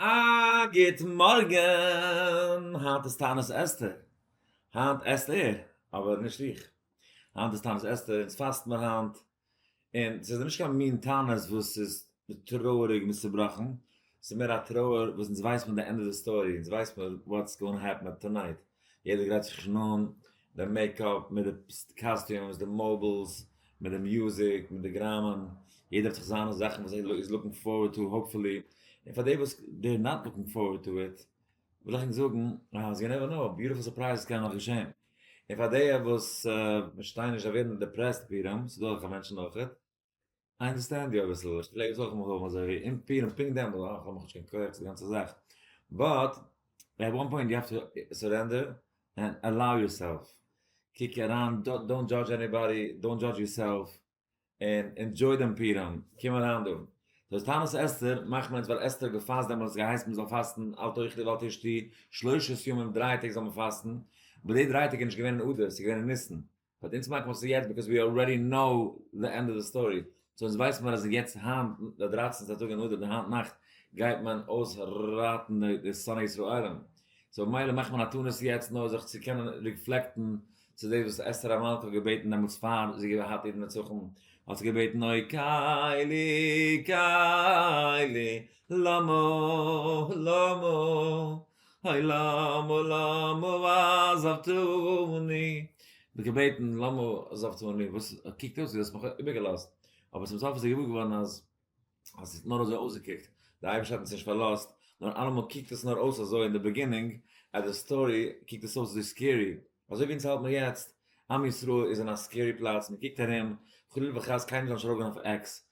א גוט מארגן! היינט איז תענית אסתר. היינט עסט ער, אבער נישט איך. היינט איז תענית אסתר, אונז פאסט מיר היינט. און ס'איז נישט קיין מין תענית וואס איז טרויעריג און צובראכן. ס'איז מער א טרויער וואס אונז ווייס פון די ענדע די סטארי, אונז ווייס מיר וואטס גאונע העפן טאנייט. יעדער גרייט זיך שוין אן, די מעיקאפ, מיט די קאסטיומס, די מאבילס, מיט די מוזיק, מיט די גראמען, יעדער האט זיך זיינע זאכן וואס ער איז לוקינג פארווערד טו האופפולי, און פאר די וואס דער נאט לוקינג פארווערד טו איט, וויל איך ענק זאגן אז יו נעווער נאו, ביוטיפול סורפרייזעס קענען נאך געשען, און פאר די וואס פארשטייען נישט זיי ווערן דעפרעסט פורים, ס'דא אזעלכע מענטשן אויכעט. איי אנדערסטענד יו אביסל, איך פלעג עס אויך אמאל האבן אזוי ווי אין פירן פונקט דעמאלט, אויך האב איך שוין געהערט די גאנצע זאך, באט עט וואן פוינט יו העוו טו סורענדער ענד אלאו יורסעלף, קוק אריין, דאונט דזשאדזש עניבאדי, דאונט דזשאדזש יורסעלף, און ענדזשוי דעם פירם, קום אריין דא. דו האסט טענות אסתר, מאכן מיר עס ווייל אסתר האט געפאסט דעמאלטס געהייסן מען זאל פאסטן אל תאכלי ואל תשתי שלשת ימים דריי טעג זאל מען פאסטן, אבער די דריי טעג איז נישט געווען אין אדר, ס'איז געווען אין ניסן, האט אונז געמאכט וואס איז יעצט ביקאוז ווי אלרעדי נאו די ענד אוו די סטארי סאו אונז ווייסן מיר אז יעצט היינט די דרייצענטע טאג אין אדר די היינט נאכט גייט מען אויסראטן די שונאי ישראלים סאו ממילא מאכט מען א תענית יעצט נאר זיך צו קענען ריפלעקטן צו דאס וואס אסתר המלכה האט געבעטן דעמאלטס פאר זי האט געהאט איר נצחון האט זי געבעטן אוי קיילי קיילי למה למה הוי למה למה ועזבתני, מיט געבעטן למה עזבתני, וואס קוקט אויס ווי דו האסט מיך איבערגעלאזט, אבער צום סוף איז ער געוואר געווארן אז אז ס'האט נאר אזוי אויסגעקוקט, דער אייבערשטער האט אונז נישט פארלאזט, נאר אלעמאל קוקט עס נאר אויס אזוי אין די ביגינינג, עט די סטארי קוקט עס אויס אזוי סקערי, אזוי ווי אונז האלט מיר יעצט, עם ישראל איז אין א סקערי פלאץ, מען קוקט ארום, חלילה וחס קיינער זאל נישט ארויפגיין אויף עקס,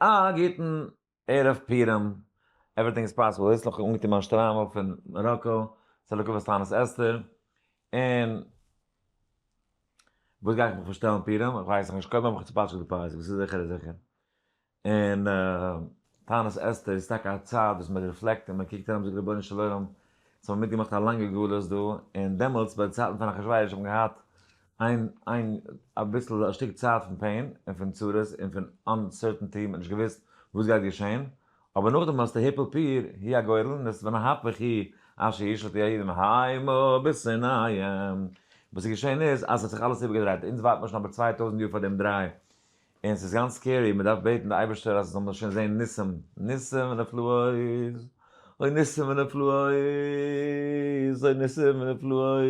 א גוטן ערב פורים, עווריטינג איז פאסיבל, איצט האב איך אנגעטון מיין שטריימל פון מאראקא, ס'איז לטובת תענית אסתר, און וואס גיי איך מיך פארשטעלן פורים, איך ווייס נאכנישט, קודם האב איך צופאטשעט די פאות, וואס איז זיכער איז זיכער, און תענית אסתר איז טאקע א צייט וואס מען ריפלעקט און מען קוקט ארום זאגט רבונו של עולם, אונז האבן מיטגעמאכט א לאנגע גלות דא, און דעמאלטס ביי די צייטן פון אחשורוש האט מען געהאט איין איין אביסל א שטיק צייט פון פעין און פון צרות און פון אנסערטענטי מען האט נישט געוויסט וואס גייט געשען אבער נאכדעם האסטו היפל פיר הי' הגורל און עס ונהפוך הי' אשר ישלט יהודים העמו בסיני וואס איז געשען איז אז עס האט זיך אלעס איבערגעדרייט אונז ווארט מיר שוין אבער צוויי טויזענט יאר פאר דעם דריי און ס'איז גאנץ סקערי, מען דארף בעטן די אייבערשטער אז מ'זאל שוין זען ניסים, ניסים ונפלאות, אוי ניסים ונפלאות, אוי ניסים ונפלאות,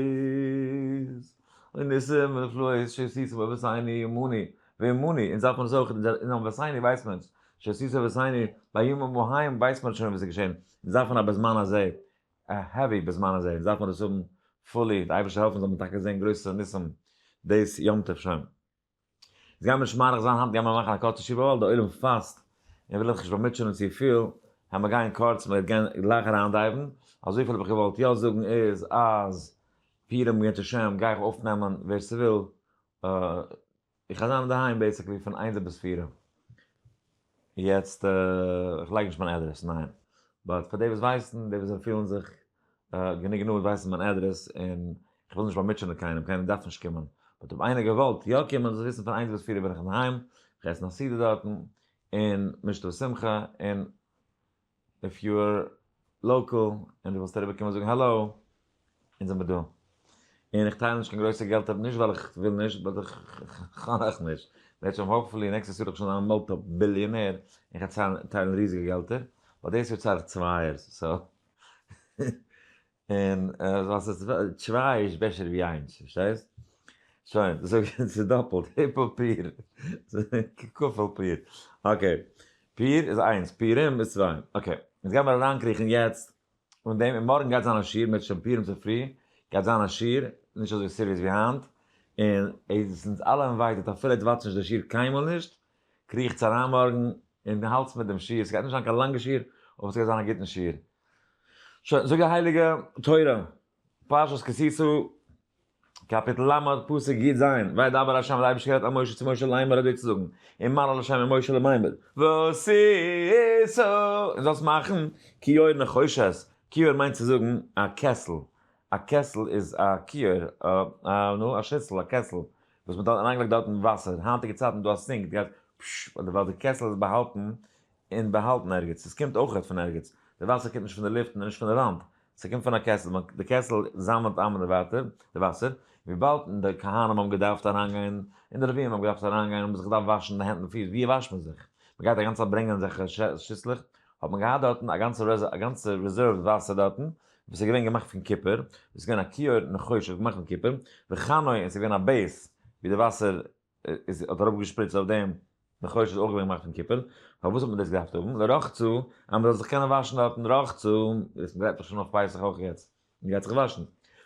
אוי ניסים ונפלאות, שעשיתו בבית עיני אמוני ואמוני, אונז דארף מען עס אויך, אינעם בית עיני ווייסט מען, שעשיתו בבית עיני, בימים ההם ווייסט מען שוין וואס איז געשען, אונז דארפן א בזמן הזה, א העווי בזמן הזה, אונז דארף מען דאס האבן פולי, די אייבערשטער העלפן זאל מען טאקע זען גרויסע ניסים דאס יום טוב שוין. איז גיימער נישט מאריך זיין היינט גיימער מאכן א קורצע תשובה ווייל די עולם פאסט און וויל איך נישט באמוטשענען צופיל העמער גייען קורץ מיר גייען גלייך אריינדייוון אזויפיל האב איך געוואלט יא זאגן איז אז פירם יתר שם גיי איך אויפנעמען ווער ס'וויל איך גיי זיין אינדערהיים בעיסיקלי פון איינזער ביז פירע. יעצט איך לייג נישט מיין עדרעס ניין באט פאר די וואס ווייסן די וואס פילן זיך גענוג נאנט ווייסן מיין עדרעס און איך וויל נישט באמוטשענען קיינעם קיינער דארף נישט קומען באט אויב איינער געוואלט יא קומען זאל וויסן פון איינס ביז פֿיר בין איך אינדערהיים איך עס נאך סעודה דארטן און משתה ושמחה און איף יו אר לאקעל און די ווילסט אריבער קומען זאגן האלא אונז זעמער דא און איך טייל נישט קיין גרויסע געלטער נישט ווייל איך וויל נישט באט איך כאן אויך נישט וועט שוין האופפולי נעקסטעס יאר וועל איך שוין זיין א מולטי ביליאנער און כ'על טיילן ריזיגע געלטער באט דאס יאר צאל איך צווייערס סאו און אז ס'איז צוויי איז בעסער ווי איינס, פארשטייסט? שוין, זאג איך ס'איז דאפלט, היפל פיר, כפל פיר, אקעי, פיר איז איינס, פירים איז צוויי, אקעי, יעצט גיימיר אריינקריכן יעצט און דעם, און מארגן גייט זיין א שיעור, מ'העט שוין פירים צופרי, גייט זיין א שיעור, נישט אזוי סיריעס ווי היינט, און עס איז אונז אלע אינווייטעט, אפילו איר וואטשט נישט די שיעור קיינמאל נישט, קריכטס אריין מארגן און האלטס מיט דעם שיעור, ס'גייט נישט זיין קיין לאנגע שיעור, אבער ס'גייט זיין א גוטן שיעור, שוין, זאג די הייליגע תורה, פרשת כי תצא, קאפיטל ל', פסוק י ז, וידבר ה' די אייבערשטער רעדט אל משה צו משה לאמר אזוי צו זאגן, און מה לו לשם אל משה לאמר, ועשית, און זאלסט מאכן, כיור נחושת, כיור מיינט צו זאגן א קעסל, א קעסל איז א כיור, א נו, א שיסל, א קעסל, וואס מען האט אריינגעלייגט דארטן וואסער, היינטיגע צייטן איז דא א סינק, דו גייסט פששש, אדער ווייל די קעסל איז באהאלטן, און באהאלטן ערגעץ, עס קומט אויך נישט פון ערגעץ, די וואסער קומט נישט פון די לופט און נישט פון די וואנט, ס'קומט פון א קעסל, די קעסל זאמלט איין די וואסער, וויבאלד די כהנים האבן געדארפט אריינגיין, און די לוויים האבן געדארפט אריינגיין האבן זיך געדארפט וואשן די הענט און פיס, ווי וואשט מען זיך? מען גייט א גאנצע צייט ברענגען אזעלכע שיסלעך, האט מען געהאט דארטן א גאנצע א גאנצע ריזערווד וואסער דארטן, וואס איז געווען געמאכט פון קופער, עס איז געווען א כיור און א חשוב געמאכט פון קופער, וכנהוג און עס איז געווען א בעיס ווי די וואסער איז האט אראפ געשפריצט אויף דעם די חושן איז אויך געווען געמאכט פון קופער, פארוואס האט מען דאס געדארפט האבן? לרחצה, אז מ'זאל זיך קענען וואשן דארטן רחצה, דאס גרייט דאך שוין אויף פסח אויך יעצט, מ'גייט זיך וואשן,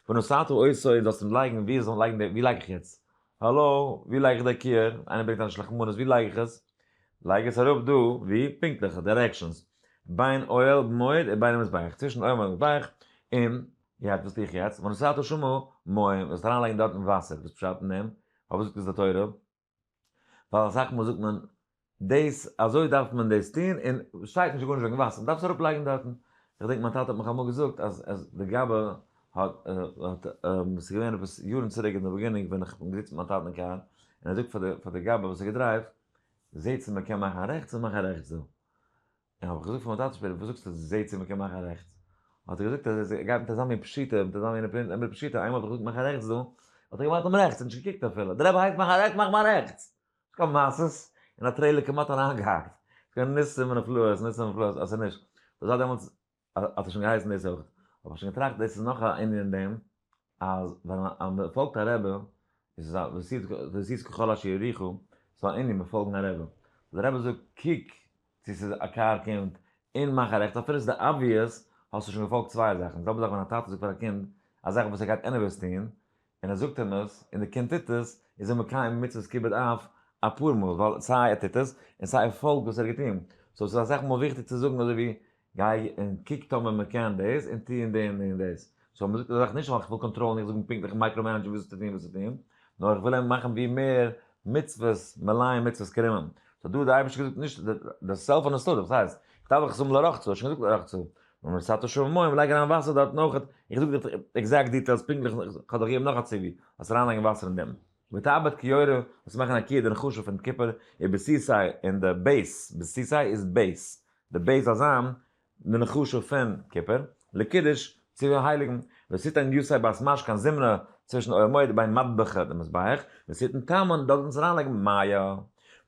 ונשאתו עושה, זאלסט אים לייגן, ווי זאל מען לייגן די, ווי לייג איך יעצט, האלא, ווי לייג איך די קעיר, איינער ברענגט אנדערש לחמנות, ווי לייג איך עס? לייג עס אראפ דא, ווי? פונקטליכע דירעקשאנס, בין אוהל מועד און בין המזבח, צווישן אוהל מועד און מזבח, און יעצט וואס טו איך יעצט? ונשאתו שמו מים, זאלסט אריינלייגן דארטן וואסער, וואס פשט אין דעם? פארוואס זאגט עס די תורה? ווייל אסאך מאל זאגט מען דאס אזוי דארף מען דאס טון און שטייט נישט גארנישט וועגן וואסער, דארפסט אראפ לייגן דארטן. איך געדענק מיין טאטע האט מיך אמאל געזאגט אז אז די גבאי האט האט עס איז געווען עפעס יארן צוריק אין די באגינונג ווען איך בין געזיצן מיט מיין טאטן אין קאר און ער זאגט פאר די פאר די גבאי וואס האט געדרייווט זעהט צו מען קען מאכן רעכטס און מאך רעכטס דא. איך האב געזאגט פאר מיין טאטע שפעטער וואס זאגסטו זי זעהט צו מ'קען מאכן א רעכטס, האט ער געזאגט אז ער גייט מיט אזא מין פשיטא מיט אזא מין אמרי פשיטא איינמאל האב איך געזאגט מאך א רעכטס דא האט ער געמאכט דעם רעכטס און נישט געקוקט אפילו די רבי הייסט מאך א רעכטס מאך מען א רעכטס ס'קומט מעשות און א טרעילער כמעט אריינגעהאקט ס'געווען ניסים ונפלאות ניסים ונפלאות אז ס'נישט דאס זייט דעמאלטס האט ער שוין געהייסן דאס אויך, האב איך שוין געטראכט דאס איז נאך א ענין אין דעם, אז ווען מען פאלגט א רבי, איז עס ועשית ועשית ככל אשר יוריך, ס'איז א ענין מיט פאלגן א רבי, דער רבי זאגט קוק צו ס'איז א קאר קומט, און מאך א רעכטס, אפילו ס'איז די אבוויעס, האסטו שוין געפאלגט צוויי זאכן, די זעלבע זאך ווען א טאטע זאגט פאר א קינד, א זאך וואס ער גייט עניוועיס טון, און ער זאגט אים עס, און דער קינד טוט עס, איז ער מקיים מצוות כיבוד אב אפאר מאל, ווייל סיי ער טוט עס, און סיי ער פאלגט וואס ער האט געטון. סאו ס'איז אסאך מאל וויכטיג צו זאגן אזוי ווי, גיי און קוק טאמער מען קען דאס, און טו און די און די און דאס. סאו מען זאגט די זאך נישט ווייל איך וויל קאנטראלן, איך זאג אים פונקטליך און מייקרא מענעדזשן וואס צו טון וואס צו טון, נאר איך וויל אים מאכן ווי מער מצוות מלאים מצוות קרימים. סאו דא האט דער אייבערשטער געזאגט נישט די סעלף אנעסטעזיע, וואס הייסט? איך דארף דאך עס האבן לרחצה, האט שוין געזאגט לרחצה, און עס האט שום מים לייג אריין וואסער דארט נאך איך זאג די עקזעקט דיטעלס פונקטליך איך האב דאך געגעבן נאך א ציווי אז אריין לייגן וואסער אין דעם ותעבד כיורה וואס מאכן א קידון חשוב פון כיפור איז בסיסי אין די בעיס בסיסי איז בעיס די בעיס באזאם מן החשוב פון כיפור לקידוש צו הייליגן וסיתן יוסי בית מש קיין זמרה צווישן עולמות ביים מטבח די מזבח וסיתן טעמון דארט ווען צו אריין לייגן מיה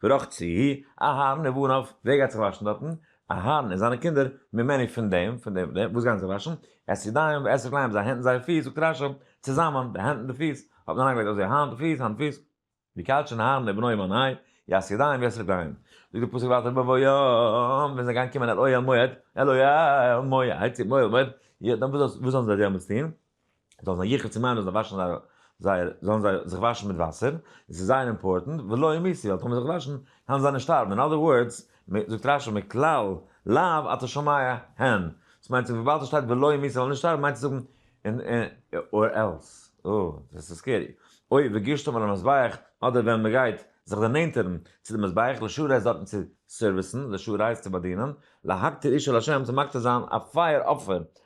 ורחצי אהרן ובניו ווער גייט זיך וואשן דארטן אהרן און זיינע קינדער ממני פון דעם, פון דעם, פון דעם, וואס גייען זיי וואשן? את ידיים ואת רגליים, זייער הענט און זייער פיס, זאגט רשי, צוזאמען, די הענט און די פיס, האט מען אריינגעלייגט אויסזעהן היינט פיס, היינט פיס. ויקדשון אהרן את בניו ממני, את ידיים ואת רגליים. זאגט דער פסוק ווייטער בבוא יום, ווען זיי גייען קומען אל אוהל מועד, אל אוהל מועד, יהיה, דאן וואס זאלן זיי דעמאלטס טון? זאלן זיי יחד צום עין זאלן זיי וואשן זייער זייער זאלן זיי זיך וואשן מיט וואסער עס איז זייער אימפארטענט ולא ימיתי ווייל טאמער זיך וואשן קענען זיי נישט שטארבן אין אדער ווארדס זאגט רשי מכלל לאו אתה שומע הן דאס מיינט זיך וויבאלד עס שטייט ולא ימיתי זאלן נישט שטארבן מיינט עס זאגן אין אור עלס או דאס איז סקערי אוי וגישתם על המזבח אדער ווען מען גייט זיך דערנענטערן צו די מזבח לשעה רייז דארטן צו סערוויסן לשעה רייז צו באדינען להקטיר איש אל השם צו מקטיר זיין א פייער אפער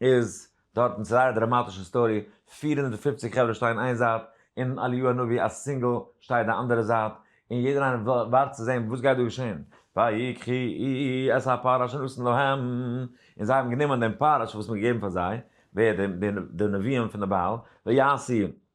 איז דארט און ס'זייער דראמאטישע סטארי, פֿיר הונדערט און פֿופֿציק חברה שטייען איין זייט, און אליהו הנביא א סינגל שטייט די אנדערע זייט, און יעדער איינער ווארט צו זען וואס גייט דא געשען, ויקחי את הפר אשר נתן להם, און זיי האבן גענומען דעם פר אשר וואס מ'האט געגעבן פאר זיי, ווער, די נביאים פון די בעל, ויעשי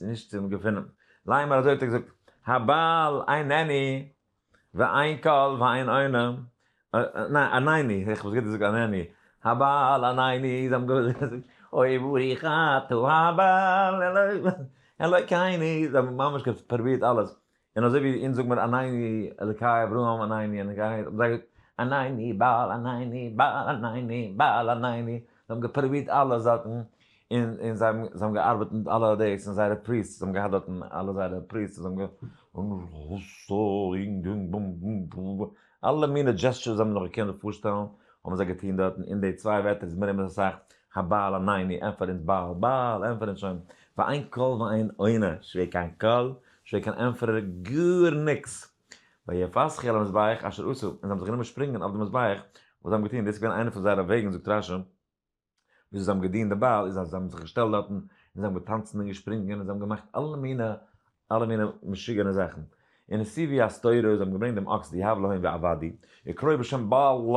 נישט צום געפונען. ליין מיר אזוי האט ער געזאגט, הבעל עין עני ועין כל ועין עונה, ניין עניני, איך האב עס גוט געזאגט ענני, הבעל עניני, זיי האבן געזאגט, אוי ואווי חטא הבעל, אלוקי עיני, זיי האבן ממש פרובירט אלעס, און אזוי ווי אונז זאג מיר עניני אלקי אברהם עניני עניני האבן זיי געזאגט עניני בעל עניני בעל עניני בעל עניני זיי האבן געפרובירט אלע זאכן און און זיי האבן זיי האבן געארבעט מיט אלע דאס און זייערע פריסט זיי האבן געהאט דארטן אלע זייערע פריסט זיי האבן אלע מינע דזשעסטשערס זיי האבן זיך נאר געקענט פארשטעלן האבן זיי געטון דארטן און די צוויי ווערטער איז מיר אמת אסאך הבעל עניני ענפערט אונז בעל בעל ענפערט אונז שוין ואין קול ואין עונה שווער קיין קול שוין קיין ענטפערער גאר ניקס, ויפסחו על המזבח אשר עשו, און זיי האבן זיך גענומען שפרינגען אויף די מזבח וואס זיי האבן געטון, דאס איז געווען איינע פון זייערע וועגן זאגט רשי, וויאזוי זיי האבן געדינט די בעל, איז אז זיי האבן זיך געשטעלט דארטן, און זיי האבן געטאנצן און געשפרינגען, און זיי האבן געמאכט אלע מיני אלע מיני משוגענע זאכן, און עס איז ווי א סתירה, זיי האבן געברענגט דעם אקס די הבלהים ועבדי, יקראו בשם בעל ל,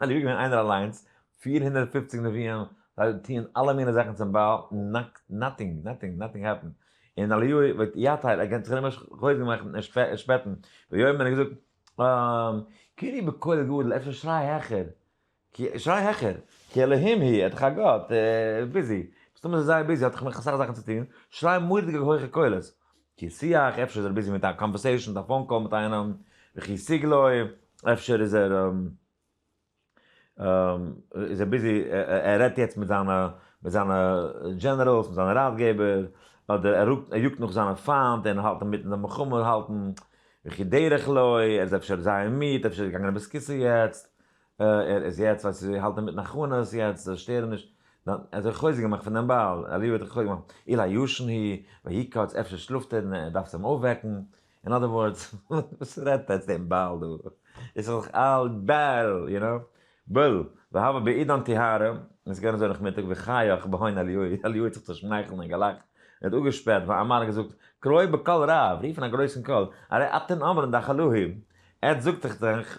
און ווי געווען איינער אליינס, פֿיר הונדערט פֿופֿציק נביאים, זיי טוען אלע מיני זאכן צום בעל, נאטינג, נאטינג, נאטינג העפענד, און אליהו וועט יא טייל, ער קען זיך נישט חוזק מאכן און שפעטן, ויאמר און ער האט געזאגט, אה, קרי' בקול גדול, אפשר שריי העכער, שריי העכער, כי אלהים היא, ער איז דאך א גאט, ער איז ביזי, מסתמא איז ער זייער ביזי, האט דאך נאך אסאך זאכן צו טון, שריי מורא'דיגע הויכע קולות. כסי' איך, אפשר איז ער ביזי מיט א קאנווערסעישאן מיט א פאון קאל מיט איינעם, וכי סיג לוי, אפשר איז ער איז ער ביזי ער רעדט יעצט מיט זיינע מיט זיינע דזשענעראלס מיט זיינע ראטגעבער, אדער ער רוקט ער יאגט נאך זיינע פיינט און האלט אינמיטן די מלחמה האלטן, וכי דרך לוי, ער איז אפשר זייער מיד, אפשר איז ער געגאנגען אביס כסא יעצט. ער איז יעצט ווייסט צו האלטען מיטן הכנות יעצט זאל שטערען נישט דיין ער האט דיך חוזק געמאכט פון דיין בעל אליהו האט דיך חוזק געמאכט אולי ישן ה' ויקץ אפשר שלאפט ער און ער דארפסט אים אויפוועקן אין אדער ווארדס וואס רעדט עטס דעם בעל דא איז סך הכל אל בעל יו נאו בול והבה בעידן טיהרא און ס'געווען אזוי נאכמיטאג וחייך בהון אליהו אליהו האט זיך צושמייכלט און געלאכט ער האט אפגעשפעט ואמר געזאגט קרוי בקול רב רוף אין א גרויסן קול הרי אתן אומרים דאך אלוהים עטס זאגט איך דאך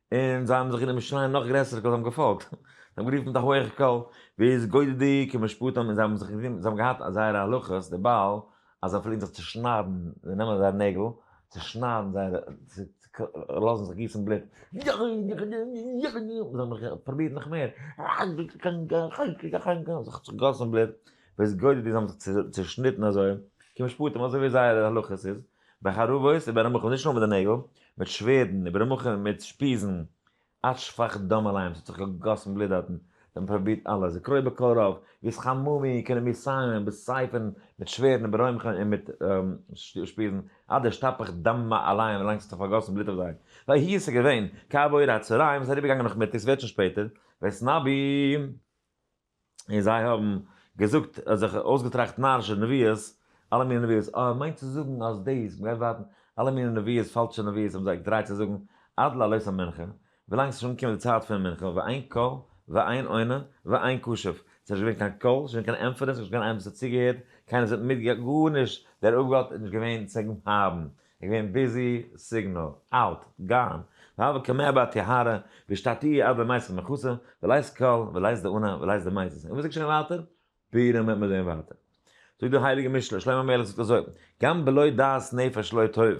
און זיי האבן זיך גענומען שרייען נאך גרעסער קול זיי האבן געפאלגט, זיי האבן גערופן מיט א הויעכע קול ווער איז גודל'דיג און משפטם און זיי האבן זיך גענומען זיי האבן געהאט א זייערע הלכות די בעל אז זיי פלעגן זיך צושניידן זיי נעמען זייער נעגל צושניידן זייער לאזן זיך גיסן בלוט פרובירט נאך מער זיך צוגאסן בלוט ווער איז גודל'דיג זיי האבן זיך צושניטן אזוי כמשפטם אזוי ווי זייערע הלכות איז בחרבות איבער רמ ח נישט נאר מיט די נעגל, מיט שווערדן איבער רמ ח מיט שפיזן עד שפך דם עליהם ס'האט זיך געגאסן בלוט דארטן, זיי האבן פרובירט אלעס וקראו בקול רב ווי עס חממ מ קענען מיר סיילן מיט סייפן מיט שווערדן איבער רמ ח און מיט שפיזן עד שטפך דם עליהם ווי לאנג ס'האט זיך פארגאסן בלוט אויף זיי, ויהי עס איז געווען כעבור הצהריים עס איז אריבערגעגאנגען נאכמיטאג ס'ווערט שוין שפעטער וועסט נביא. און זיי האבן געזאגט, זיך אויסגעטראכט נארישע נביאות, אלע מיני נביאות, אה, מיינט צו זאגן אז דאס, מ'גייט ווארטן, אלע מיני נביאות, פאלשע נביאות האבן זיי געטרייט צו זאגן, עד לעלות המנחה, ווילאנג ס'איז שוין אנגעקומען די צייט פון מנחה, ואין קול, ואין עונה, ואין קשב, ס'איז נישט געווען קיין קול, ס'איז נישט געווען קיין ענטפערען, ס'איז נישט געווען איינער וואס האט צוגעהערט, קיינער זעט מיט, גארנישט, דער אפגאט איז נישט געווען צו האבן. איך בין ביזי, סיגנאל, אַוט, גאָן, והוה כמהא באתי הרה, ושתתי עד למעשה מכוסה, ולאיז קל, ולאיז די אָנא, ולאיז די מייזעס, און וואָס זאָגט שוין ווייטער? פּורים וועט מען זען ווייטער. זאָגט דער הייליגער משל, שלמה המלך זאָגט אַזוי, גם בלא דעת נפש לא טוב.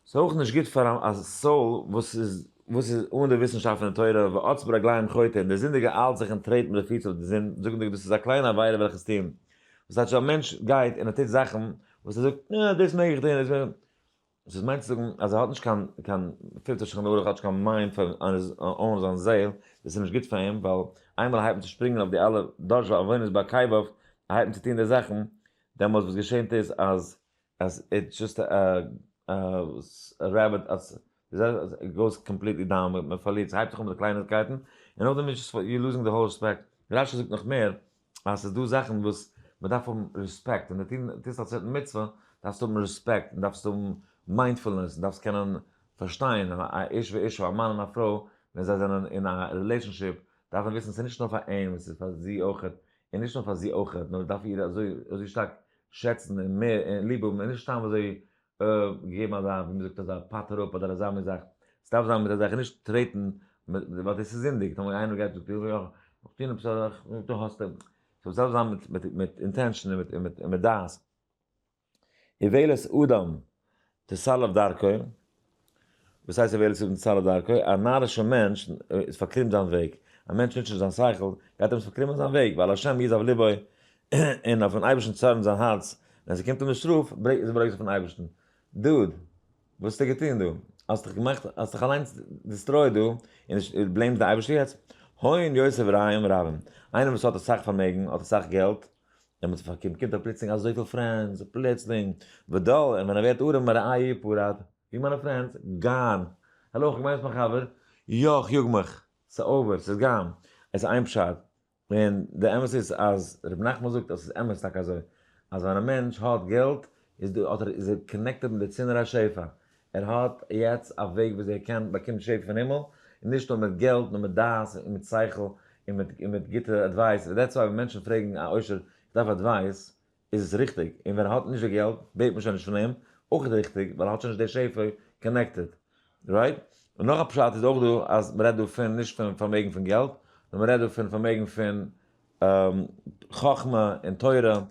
ס'איז אויך נישט גוט פאַר אַ סאָל וואָס איז וואָס איז אָן די וויסנשאַפט פון די תורה, ועץ ברגליים חוטא, און דער זינדיגער איילט זיך און טרעט מיט די פיס אויף די זון, זאָגנדיג דאָס איז אַ קליינע עבירה וועלכע עס טוען וואס טייטש א מענטש גייט און ער טוט זאכן וואס ער זאגט אה דאס מעג איך טון, וואס איז מיינט צו זאגן אז ער האט נישט קיין קיין פילטער שולחן ערוך האט נישט קיין מיינד פאר אן זיין זעהל, דאס איז נישט גוט פאר אים ווייל איינמאל ער הייבט אן צו שפרינגען אויף די אלע דאזשע עוונות ביי קייוואף ער הייבט אן צו טון די זאכן דעמאלטס וואס געשענט איז אז אז איטס זשאסט א א א רעביט איט גאוס קאמפליטלי דאון, מען פארלירט, ס'הייבט זיך אן מיט די קלייניקייטן, און נאכדעם איז זשאסט יור לוזינג די האול רעספעקט, רשי זאגט נאך מער, אז ס'איז דא זאכן וואס מען דארף האבן רעספעקט, און די טוסט א צווייטן מצוה, דארפסטו האבן רעספעקט, און דארפסט האבן מיינדפולנעס, און דארפסט קענען פארשטיין, א איש ואשתו, א מאן און א פרוי, ווען זיי זענען אין א רילעישאנשיפ, דארף מען וויסן ס'איז נישט נאר פאר אים, ס'איז פאר זי אויכעט, און נישט נאר פאר זי אויכעט, נאר מען דארף איר אזוי שטארק שעצן, און מער, און ליב האבן, און נישט סתם אזוי געגעבן אזא ווי מען זאגט אזא פאט אראפ אדער אזא מען זאגט עס דארף זיין מיט אזעלכע נישט טרעטן ווייל דאס איז זינדיג טאמער איינער גייט זאגט איך וויל איך טוהן עפעס אזאך און דו האסט אים סאו עס דארף זיין מיט מיט מיט אינטענשאן און מיט און מיט און מיט דעת איוועלת אדם תסלף דרכו וואס הייסט ער ווערט צו דעם צרה דרכו? א נארישע מענטש איז פארקרימט זיין וועג, א מענטש ניצט נישט זיין שכל, גייט אים עס פארקרימען זיין וועג, ווייל השם יזהר לבו, און אויפן אייבערשטן צארנט זיין הארץ, ווען ס'קומט אים די שטראף, ברענגט עס ברוגז אויפן אייבערשטן. דוד, וואס האסטו געטון דא? האסט דיך געמאכט, האסט דיך אליינס דיסטרויעט דא, און דו בלעימסט די אייבערשטער יעצט? הון יוסף רעים רבים, איינער וואס האט אסאך פארמעגן, האט אסאך געלט, ווען מען האט זיך פארקומט קומט ער פלוצלינג אזויפיל פרענדס, פלוצלינג, ודל, און ווען ער ווערט ארעם א ראי' פארט, ווי מיינע פרענדס? גאן! העלא, כ'בין יעצט מיין חבר, יא, כ'יאג מיך, ס'איז אווער, ס'איז גאן, עס איז איין פשט, און די אמת איז אז רבי נחמן זאגט אז ס'איז אמת טאקע אזוי, אז ווען א מענטש האט געלט איז ער קאנעקטעד מיט די צינור השפע, ער האט יעצט א וועג וויאזוי ער קען באקומען שפע פון הימל, און נישט נאר מיט געלט נאר מיט דעת און מיט שכל, און מיט און מיט גוטע עדווייס, ווען דעטס וואי ווען מענטשן פרעגן א עושר איך דארף עדווייס, איז עס ריכטיג, און ווען ער האט נישט די געלט בעט מען שוין נישט פון אים, אויך ריכטיג, ווייל ער האט שוין נישט די שפע קאנעקטעד. רייט? און נאך א פשט איז אויך דא אז מען רעדט דא פון נישט פון פארמעגן פון געלט, נאר מען רעדט דא פון פארמעגן פון חכמה און תורה,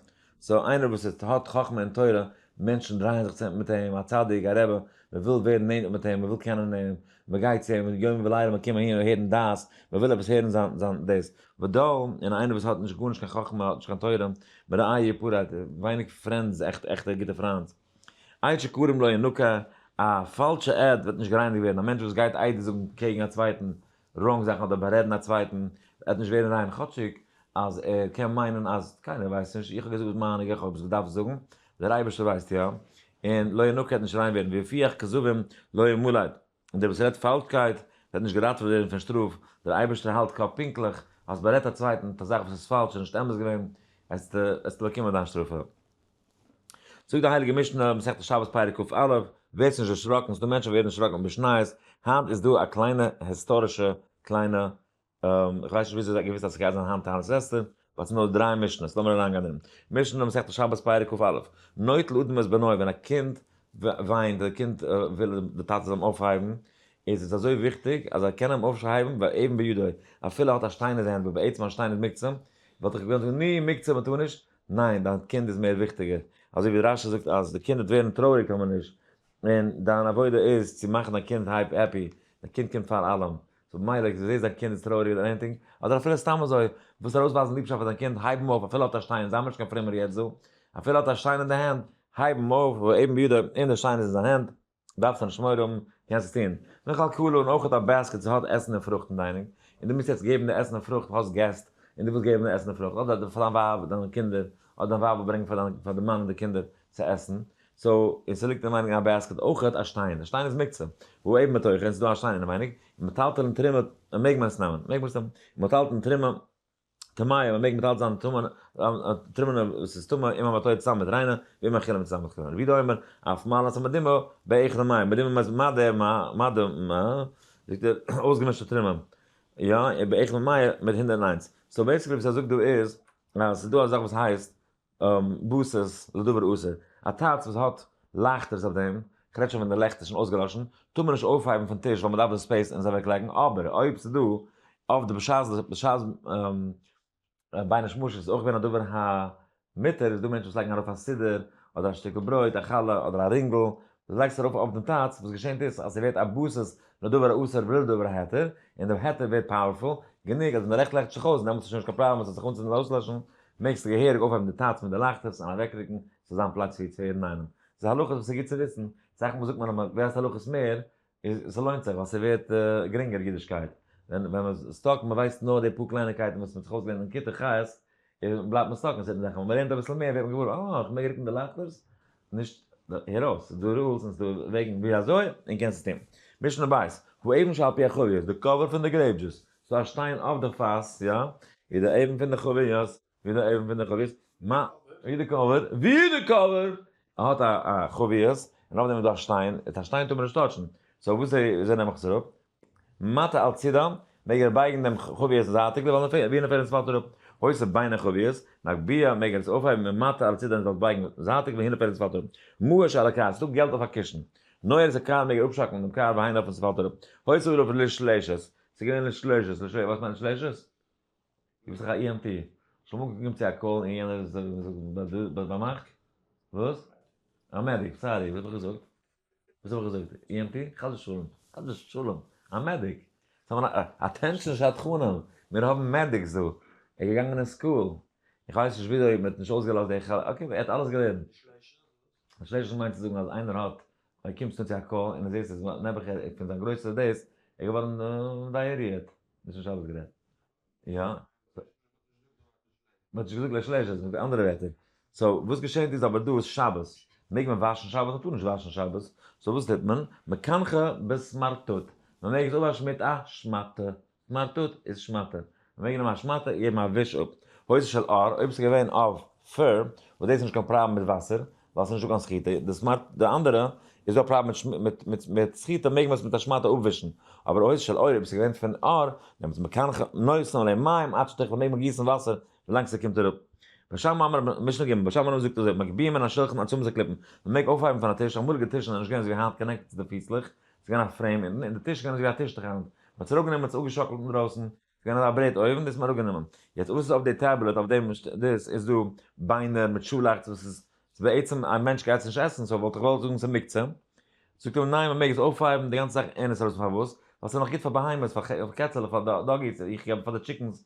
סאו איינער וואס איז האט חכמה און תורה, מענטשן דרייען זיך צענטער מיט אים, א צדיק, א רבי, מען וויל ווערן נענטער מיט אים, מען וויל קענען אים, מען גייט צו אים יום ולילה, מען קומט אהין הערן דעת, מען וויל עפעס הערן זיין זיין דאס, ודל, און איינער וואס האט נישט גארנישט קיין חכמה, האט נישט קיין תורה, מראיה פורעט, ווייניג פרענדס, עכט עכטע גוטע פריינד. עד שקרום לא ינוקה, א פאלשע עד וועט נישט גערייניגט ווערן, א מענטש וואס גייט איידער זאגן קעגן א צווייטן ראנג זאכן אדער בארעדן א צווייטן עט נישט ווערן ריין כאטשיג אז ער קען מיינען אז קיינער ווייסט נישט, איך האב געזאגט וואס מיין איך האב עס געדארפט זאגן, דער אייבערשטער ווייסט יא, און לא ינוקה עט נישט ריין ווערן, ופיך כזבים לא ימלאו. און דער וואס רעדט פאלשקייט וועט נישט געראטעוועט ווערן פון שטראף, דער אייבערשטער האלט קאפ פונקטליך, האסט בארעדט א צווייטן מיט א זאך וואס איז פאלש און נישט אמת געווען, עסטו באקומען דיין שטראף. זאגט די הייליגע משנה, מסכת שבת פרק ק א, ווערסט נישט דערשראקן, ס'דא מענטשן וואס ווערן דערשראקן בשניות, היינט איז דא א קליינע היסטארישע קליינע איך ווייס נישט וויאזוי זיי האבן געוואוסט אז ס'גייט זיין היינט טענה'ס אסתר, ווייל ס'איז נאר דריי משנה'ס, לאמיר אריינגיין אין משנה מסכת שבת פרק קכ א, נוטל אדם את בנו, ווען א קינד וויינט, די קינד וויל די טאטע זאל אים אויפהייבן, איז עס אזוי וויכטיג אז ער קען אים אויפהייבן ואבן בידו, אפילו ער האט א שטיין אין די הענט, וואס בעצם א שטיין איז מוקצה, וואלט איך געווען זאגן ני, מוקצה מ'טאר נישט, ניין, דיין קינד איז מער וויכטיגער, אזוי ווי רשי זאגט אז די קינד וועט ווערן טרויעריג טאר מען נישט, און דיין עבודה איז צו מאכן דיין קינד הייפ העפי, דיין קינד קומט פאר אלעם, סאו במילא ווען דו זעסט דיין קינד איז טרויעריג אדער עניטינג, אדער אפילו סתם אזוי, ווילסט ארויסווייזן ליבשאפט פאר דיין קינד, הייב אים אויף אפילו האט ער שטיין, זיי האבן נישט קיין פרומער יעצט דא, אפילו האט ער שטיין אין די הענט, הייב אים אויף, אויב בידע און די שטיין איז אין זיין הענט, דארפסט ער נישט מורא האבן, קענסט עס טון, נאך על כולו און אויך א בעסקעט ס'האט עסן און פרוכט אין דיינינג, און דו מוזט יעצט געבן די עסן און פרוכט, האסט געסט, און דו ווילסט געבן די עסן און פרוכט, אדער פאר דיין ווייב, דיין קינדער, אדער דיין ווייב וויל ברענגן פאר די מאן און די קינדער צו עסן, סאו, און ס'ליגט אין מיינוג א בעסקעט אויכעט א שטיין, א שטיין איז מוקצה, והוא עיב מתוכו, און ס'דא א שטיין אינעווייניג, און מ'טיילט ארום תרומה, מעג מען עס נעמען? מעג מען עס נעמען? און מ'טיילט ארום תרומה טמאה, מ'מעג מ'טיילט זיין תרומה נאר וואס איז טמא, אם המתו צוזאם מיט ריינע, ואם אכילה מצוזאם מיט כלומר, וידו אומר, אף מעלת המדימה, באיכילא מאי, מדימה מיינט מה ד מה, מה ד מה, זאגט ער, אויסגעמישטע תרומה, יא, באיכילא מאי, מיט הונדערט און איינס. סאו בעסיקלי וואס ער זאגט דא איז, אז ס'דא א זאך וואס הייסט, באסעס לדבר אסור, א טייטש וואס האט לייכטערס אויף דעם, כ'רעד שוין ווען די לעכט איז שוין אויסגעלאשן, טאר מען נישט אויפהייבן פון טיש ווייל מ'דארף די ספעיס און עס אוועק לייגן, אבער אויב ס'איז דא אויף די בשעת בשעת בין השמשות איז אויך געווען א דבר המותר, איז דא מענטשן וואס לייגן ארויף א סידור, אדער א שטיקל ברויט, א חלה, אדער א רינגל, דו לייגסט ארויף אויף דעם טאץ וואס געשענט איז אז ס'ווערט א בסיס לדבר האסור ולא לדבר ההיתר, און דעם היתר ווערט פאוערפול גענוג אז ווען די לעכט לעכט זיך אויס דעמאלטס איז שוין נישט קיין פראבלעם עס זאל זיך אנצינדן אדער אויסלעשן, מעגסט געהעריג אויפהייבן די טאץ פון די לייכטערס און אוועקרוקן צו זיין פלאץ ווי צוויי אינאיינעם. ס'איז הלכות וואס ס'איז גוט צו וויסן, סאך מאל זאגט מען אז מ'ווייסט הלכות מער ס'לוינט זיך ווייל ס'ווערט גרינגער אידישקייט ווען ווען מ'איז סטאק און מ'ווייסט נאר די פאר קלייניקייטן וואס מ'האט זיך אויסגעלערנט אין כיתה ח' איז בלייבט מען סטאק אין זעלבן זאכן, ווען מ'לערנט אביסל מער ווערט מען געוואר אה איך מעג רוקן די לייכטערס נישט הער אויס ס'איז דא רולס און ס'איז דא וועגן ווי אזוי און קענסט עס טון. משנה בית, הוא אבן שעל פי החביות, די קאווער פון די גרעיפ דזשוס, ס'איז דא א שטיין אויף די פאס, יא, איז די אבן פון די חביות, ווי די אויבן פון די חביר ס מ, ווי די קבר, ווי די קבר! ער האט א א חביר ס מ און אויף דעם איז דא א שטיין, א שטיין טאר מען נישט טאטשן, סאו וואס איז וואס איז נעם איך עס אראפ? מטה על צידה, מעג ער בייגן דעם חביר ס זייטיג דערווייל נאר ווי נאר פעלט עס פאלט אראפ, הוספ בין החביר ס מ הגביה, מעג ער עס אויפהייבן און מטה על צידה און זאלסט בייגן זייטיג ווי נאר פעלט עס פאלט אראפ, מאה שעל הקאר, ס'איז דא געלט אויף א קישן, נוהר ס קאר מעג ער אפשאקלן דעם קאר ווי נאר עס פאלט אראפ, הוספ דערויף לשלשת, ס'איז געווען לשלשת, לשלשת, וואס מיינט לשלשת? גיב זיך א EMP. שוין מאנגל געקומען צו א קאל און יענער זאגט באמערקט? וואס? א מעדיק, סארי וואס האב איך געזאגט? וואס האב איך געזאגט? EMT? חס ושלום, חס ושלום, א מעדיק! אטענשאן שדכנים, מיר האבן מעדיקס דא, ער איז געגאנגען אין סקול, איך ווייס נישט וויאזוי מען האט נישט אויסגעלאזט די חלק, אקעי ער האט אלעס געלערנט. פארשטייסט וואס איך מיין צו זאגן אז איינער האט אויב קומסטו צו א קא און די זעסט אז נעבעך ער פון זיין גרויסע דאס ער געווארן דייעריעט נישט נישט אלעס גערעדט יא מ'האט נישט געזאגט לייג שלעש עס מיט אנדערע ווערטער סאו וואס געשענט איז אבער דא איז שבת מעג מען וואשן שבת מ'טאר נישט וואשן שבת סאו וואס טוט מען מקנחה בסמרטוט מ'מעג עס אפוואשן מיט א שמאטע סמארטוט איז שמאטע. מען מעג נעמען א שמאטע און געבן א וויש אפ. הוצאה של ר, אויב ס'איז געווען אוו פר, וואס דאס איז נישט קיין פראבלעם מיט וואסער, ווייל ס'איז נישט דא קיין סחיטה. די סמארט די אנדערע איז דא א פראבלעם מיט מיט מיט סחיטה מעג מען עס מיט א שמאטע אפווישן. אבער הוצאה של ר אויב ס'איז געווען פון ר, נעמטס מקנח נושאים עליהם מים עד שתכלה מעג מען גיסן וואסער ווילאנג ס'קומט אראפ. בשם אמר רבנן, משנה ג, בשם אמר רבנן זאגט אזוי, מגביהים מן השלחן עד צמות הקליפן, מען מעג אויפהייבן פון א טיש, אמאליגע טישן זענען נישט געווען אזווי היינט קאנעקטעד צו די פיסלעך, ס'איז געווען א פרעים אונטן, און די טיש איז געווען אזויווי א טיש תחת, מ'האט עס אראפגענומען מ'האט עס אפגעשאקלט אינדרויסן, ס'איז געווען אזא ברעט אויבן, דאס האט מען אראפגענומען. יעצט וואס איז אויף די טעבלעט אויף דעם דאס איז דא ביינער מיט שאלאכץ וואס איז בעצם א מענטש גייט עס נישט עסן סאו וואלט איך געוואלט זאגן ס'איז מוקצה, זאגט ער מיר ניין מ'מעג עס אויפהייבן די גאנצע זאך אין עס ארויס פארוואס? ווייל ס'איז נאך גוט פאר בהמות פאר קעצעלעך פאר דאגיס איך געב פאר די טשיקענס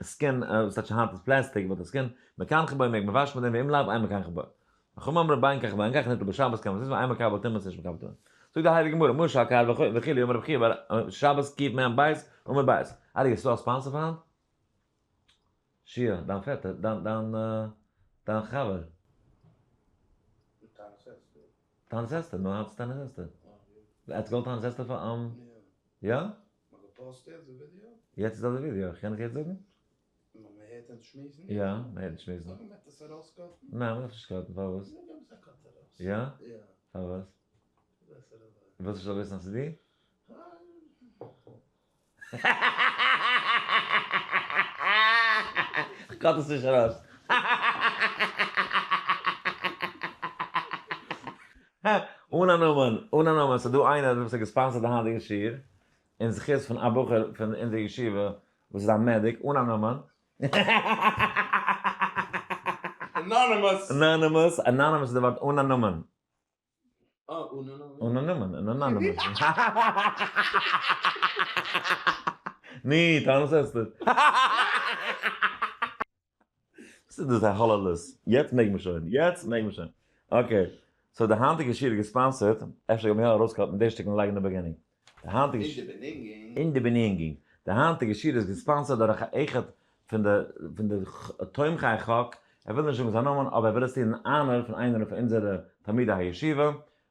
עסקן, וואס טייטש היינט איז פלעסטיק, וואלט עסקן, מקנח בו, מעג מען וואשן מיט דעם ואם לאו איין מקנח בו. חכמים אמרו ביין כך וביין כך ניטל בשבת קאן מען עס נישט ווייל איין מקבל טמא עס נישט מקבל טמא. זאגט די הייליגע גמרא משא כ האר וכו' וכו' אמר רבי חייא בר א שבת קיב מ בית אמר בית ארי' האסטו א ספאנסער פאר היינט? שיער, דיין פעטער, דיין דיין דיין חבר. טענעס אסתר. טענעס אסתר, נו היינט איז טענעס אסתר. עטס געוואלט טענעס אסתר פאר אים? יא? יעצט איז דא די ווידיאו, קען איך יעצט זאגן? יא, מען הערט נישט שמועסן. ניין, מ'דארף נישט קאטן, פארוואס? יא? פארוואס? ווילסט איך זאל וויסן אז ס'איז דיר? כ'קאט עס נישט ארויס. הע! אן א נאמען, אן א נאמען, ס'איז דא איינער וואס האט געספאנסערט די היינטיגע שיעור, אין זכות פון א בחור פון אונזער ישיבה וואס איז א מעדיק, אן א נאמען. אנאנימוס. אנאנימוס, אנאנימוס איז די ווארט, אן א נאמען. אה, אן א נאמען. אן א נאמען, אן אנאנימוס. ני, טענות עסטער. וואס איז דאס א האללעלעס? יעצט מעג מען שוין, יעצט מעג מען שוין. אקעי, סאו די היינטיגע שיעור איז געספאנסערט, אפשר גייט מען יא ארויסקאטן די שטיקל און לייגן אין די בעגינינג. די היינטיגע שיעור. אין די בענינגינג. די היינטיגע שיעור איז געספאנסערט דורך א אחד פון די פון די תומכי חק, ער וויל נישט זאגן זיין נאמען אבער ער וויל עס טון אין אנער פון איינער פון אונזערע תלמידי הישיבה,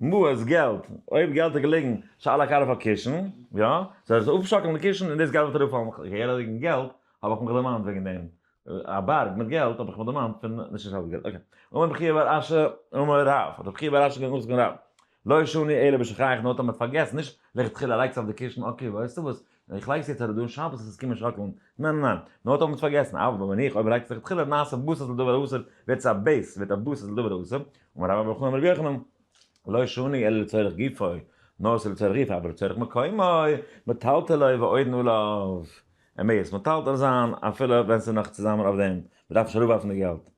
מעות, געלט, אויב געלט איז געלעגן ש על הקרח אויף קישן, יא, סאו עס איז אויפשאקלן די קישן און דאס געלט וועט אראפפאלן אויף קישן, כהער אז וועגן געלט האב איך מיך דערמאנט וועגן דעם, א בארג מיט געלט האב איך מיך דערמאנט פון נישט נישט אלץ געלט, אקעי, אמר רבי חייא בר אשר אמר רב, האט רבי חייא בר אשר געזאגט נאכזאגן רב, לא שני אלא בשכח נאר האט ער מיט פארגעסן, נישט לכתחילה לייגטס אויף די קישן, אקעי ווייסטו וואס, און איך לייג עס יעצט אראפ דא און שבת וועט עס קומען שאקלן, ניין ניין ניין, מען האט אויך פארגעסן, אויב בין איך אויב לייגט זיך לכתחילה נעשה בשר לדבר האסור ווערט עס א בעיס ווערט א בשר לדבר האסור, אמר רבא בר חנא אמר רבי יוחנן, לא שני אלא לצורך גופו, נאר עס איז לצורך גופו אבער לצורך מקומו, מטלטל לוי ועודנו עליו, ער מעג עס מטלטל זיין אפילו ווען עס איז נאך צוזאמען אויף דעם, מען דארף נישט אראפווארפן די געלט.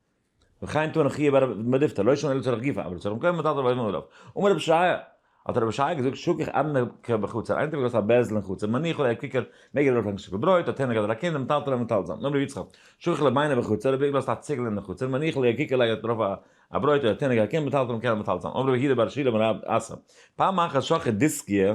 וכן טוען חיוב ארבע מדיפתא לא ישן אלא צורך גופא אבל צורך מקומו מותר דארף אויבן ארויף אמר רבי שריה האט רבי שריה געזאגט שכח אדנע כ בחצר איינער האט געלאזט א בערזל אין חצר מניח אולי קיקער מעג ער דארף לענגן שטיקל ברויט האט איינער געהאט א קינד מטלטל א מטלטל זאמד אמר רבי יצחק שכח לבינה בחצר רבי געלאזט א ציגל אין חצר מניח אולי קיקער לייגט דערויף א א ברויט האט איינער געהאט א קינד מטלטל מקען א מטלטל זאמד אמר רבי יהודה בר שילא בן רב אסא פעם אחת שכח דיסקיה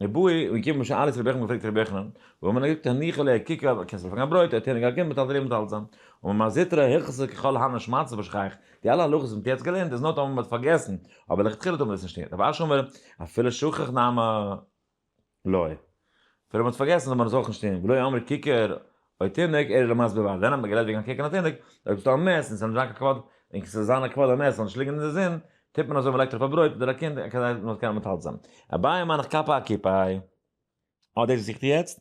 די בעה ב איז געקומען בשעה עלות רבי יוחנן געפרעגט רבי יוחנן, וואו האט מען געזאגט הניחא ליה קיקא וואו קענסטו פארן א ברויט האט ער אים געענטפערט מיט אלדא מיט אלזא און ממה זיתרא היחסר ככל הנ ש מצא בשכח די אלע הלכות וואס מען האט יעצט געלערנט איז נאר טאמער מען האט פארגעסן אבער לכתחילה טאר מען עס נישט טון רבי אשר אומר אפילו שכח נהמא ליה אפילו מען האט פארגעסן זאל מען עס אויך נישט טון ולא יאמר קיקא אוי תינוק, ער איז למעשה ב ב אז דען האט מען גערעדט וועגן קוקן א תינוק, אויב ס'איז דא א מת און ס'איז נישט זיין קיין כבוד, און כס'איז זיין א כבוד א מת זאל נישט ליגן אין די זון, טוט מען אזוי מ'לייגט ארויף א ברויט אדער א קינד כדי מ'זאל קענען מתעלת זיין. אביי מיין איך קאפא א קיפא איי. אה דאס זוכט איר יעצט?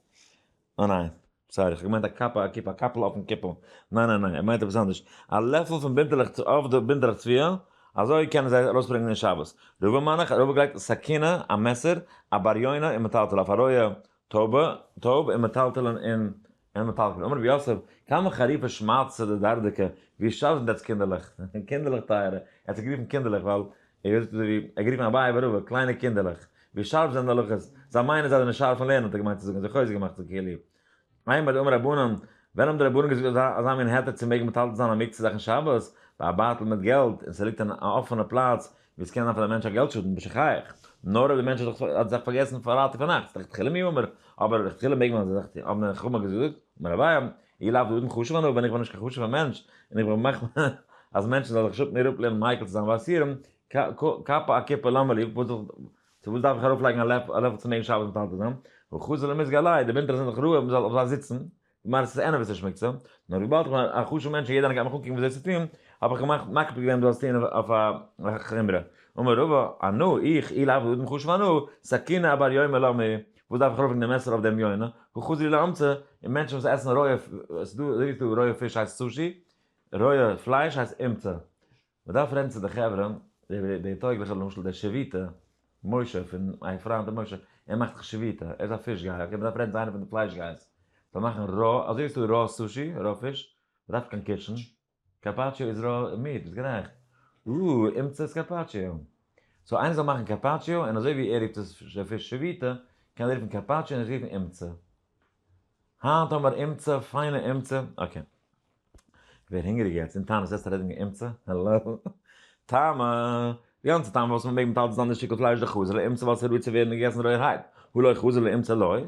אה ניין. סארי כ'האב געמיינט א קאפא א קיפא א קאפל אויפן קעפל. ניין ניין ניין ער מיינט עפעס אנדערש. א לעפל פון בינטעלעך צו אויף די בינטעלעך צביעה, אזוי קענען זיי ארויסברענגען אין שבת. רובא מיין איך, רובא גלייגט סכינא, א מעסער, א בר יונה און מטלטל אויף א רויע טובה, טוב, און מטלטלין און און מטלטלין. אמר רבי יוסף, כמה חריפה שמעתא דדרדקא, ווי שארף זענט עטס קינדערלעך, קינדערלעך טייערע, ער האט זיי גערופן קינדערלעך ווייל ער האט גערופן אביי ורבא, קליינע קינדערלעך, ווי שארף זענען די הלכות, זיי מיינען זיי זענען שארף אין לערנען האט ער געמיינט צו זאגן, זיי חוזק געמאכט זיך כאילו. איי מאד אמר רבנן, ווען האבן די רבנן געזאגט אזא אזא מין היתר צו מעגן מטלטל זיין א מקצה זאך אין שבת, ביי א בייטל מיט געלט, און ס'ליגט אין א אפענע פלאץ, ווי עס קען זיין פאר די מענטש א געלט שאדן בשכח, נאר אויב די מענטש האט זיך פארגעסן פארהאלטן פארנאכטס לכתחילה מי אומר, אבער לכתחילה מעג מען זיך טוהן, האבן די חכמה געזאגט, אמר אביי, אי לאו דאדם חשוב אנא ווען איך בין נישט קיין חשוב'ער מענטש, און איך בין מחמיר אז מענטשן זאלן זיך שפן איר אפלערנען מייקל צו זיין וואסירם, קאפא א קופה למה לי, צו וואס דארף איך ארויפלייגן א לעפל צו מעגן שבת מתעתד זיין, וחוזר למזג עליי, די ווינטער זענען דאך רעווע מען זאל אויף זיי זיצן, געמיינט עס איז ענער וואס ער שמוץ אן, נאר וויבאלד איך בין א חשוב'ע מענטש און יעדער איינער גייט מיך אנקוקן וואס זיי צו טון, האב איך געמאכט מקפיד געווען דאס טון אויף א חומרא. אמר רבא, א נא, איך, אי לעבוד אדם חשוב אנא, סכינא אבר יונה למה היא, וואס דארף איך ארויפלייגן די מעסער אויף דעם יונה, הוא חזיר לאמצע, און מענטשן וואס עסן רויע, ס'איז דא אזוי ווי ס'איז דא רויע פיש הייסט סושי, רויע פלייש הייסט אומצה, מ'דארף רעדן צו די חברה, די די טויגליכע למשל דער שביתא משה פון מיין פריינד דער משה, ער מאכט זיך שביתא, ער איז א פיש גייער, אקעי מ'דארף רעדן צו איינער פון די פלייש גייערס, זאל מאכן רא, אזוי ווי עס איז דא רא סושי, רא פיש, מ'דארף קיין קיטשן, קארפאטשיאו איז רא מיעט, ביסט גערעכט, או, אומצעס קארפאטשיאו, סאו איינער זאל מאכן קארפאטשיאו, און אזוי ווי ער רופט עס פיש שביתא, קען ער רופן קארפאטשיאו און איך רופן אומצע. היינט האבן מיר אמצע, פיינע אמצע, אקעי. כ'ווער הונגעריג יעצט, אין טעם עסט ער אויב נישט אמצע, העלאו. טעמע, די גאנצע טעמע וואס מ'מעג מיט אלץ דאן די שטיקל פלייש די חזר'ל אמצע ווייל ס'איז ראוי צו ווערן געגעסן רויערהייט, הלואי חזר'ל אמצע לוי,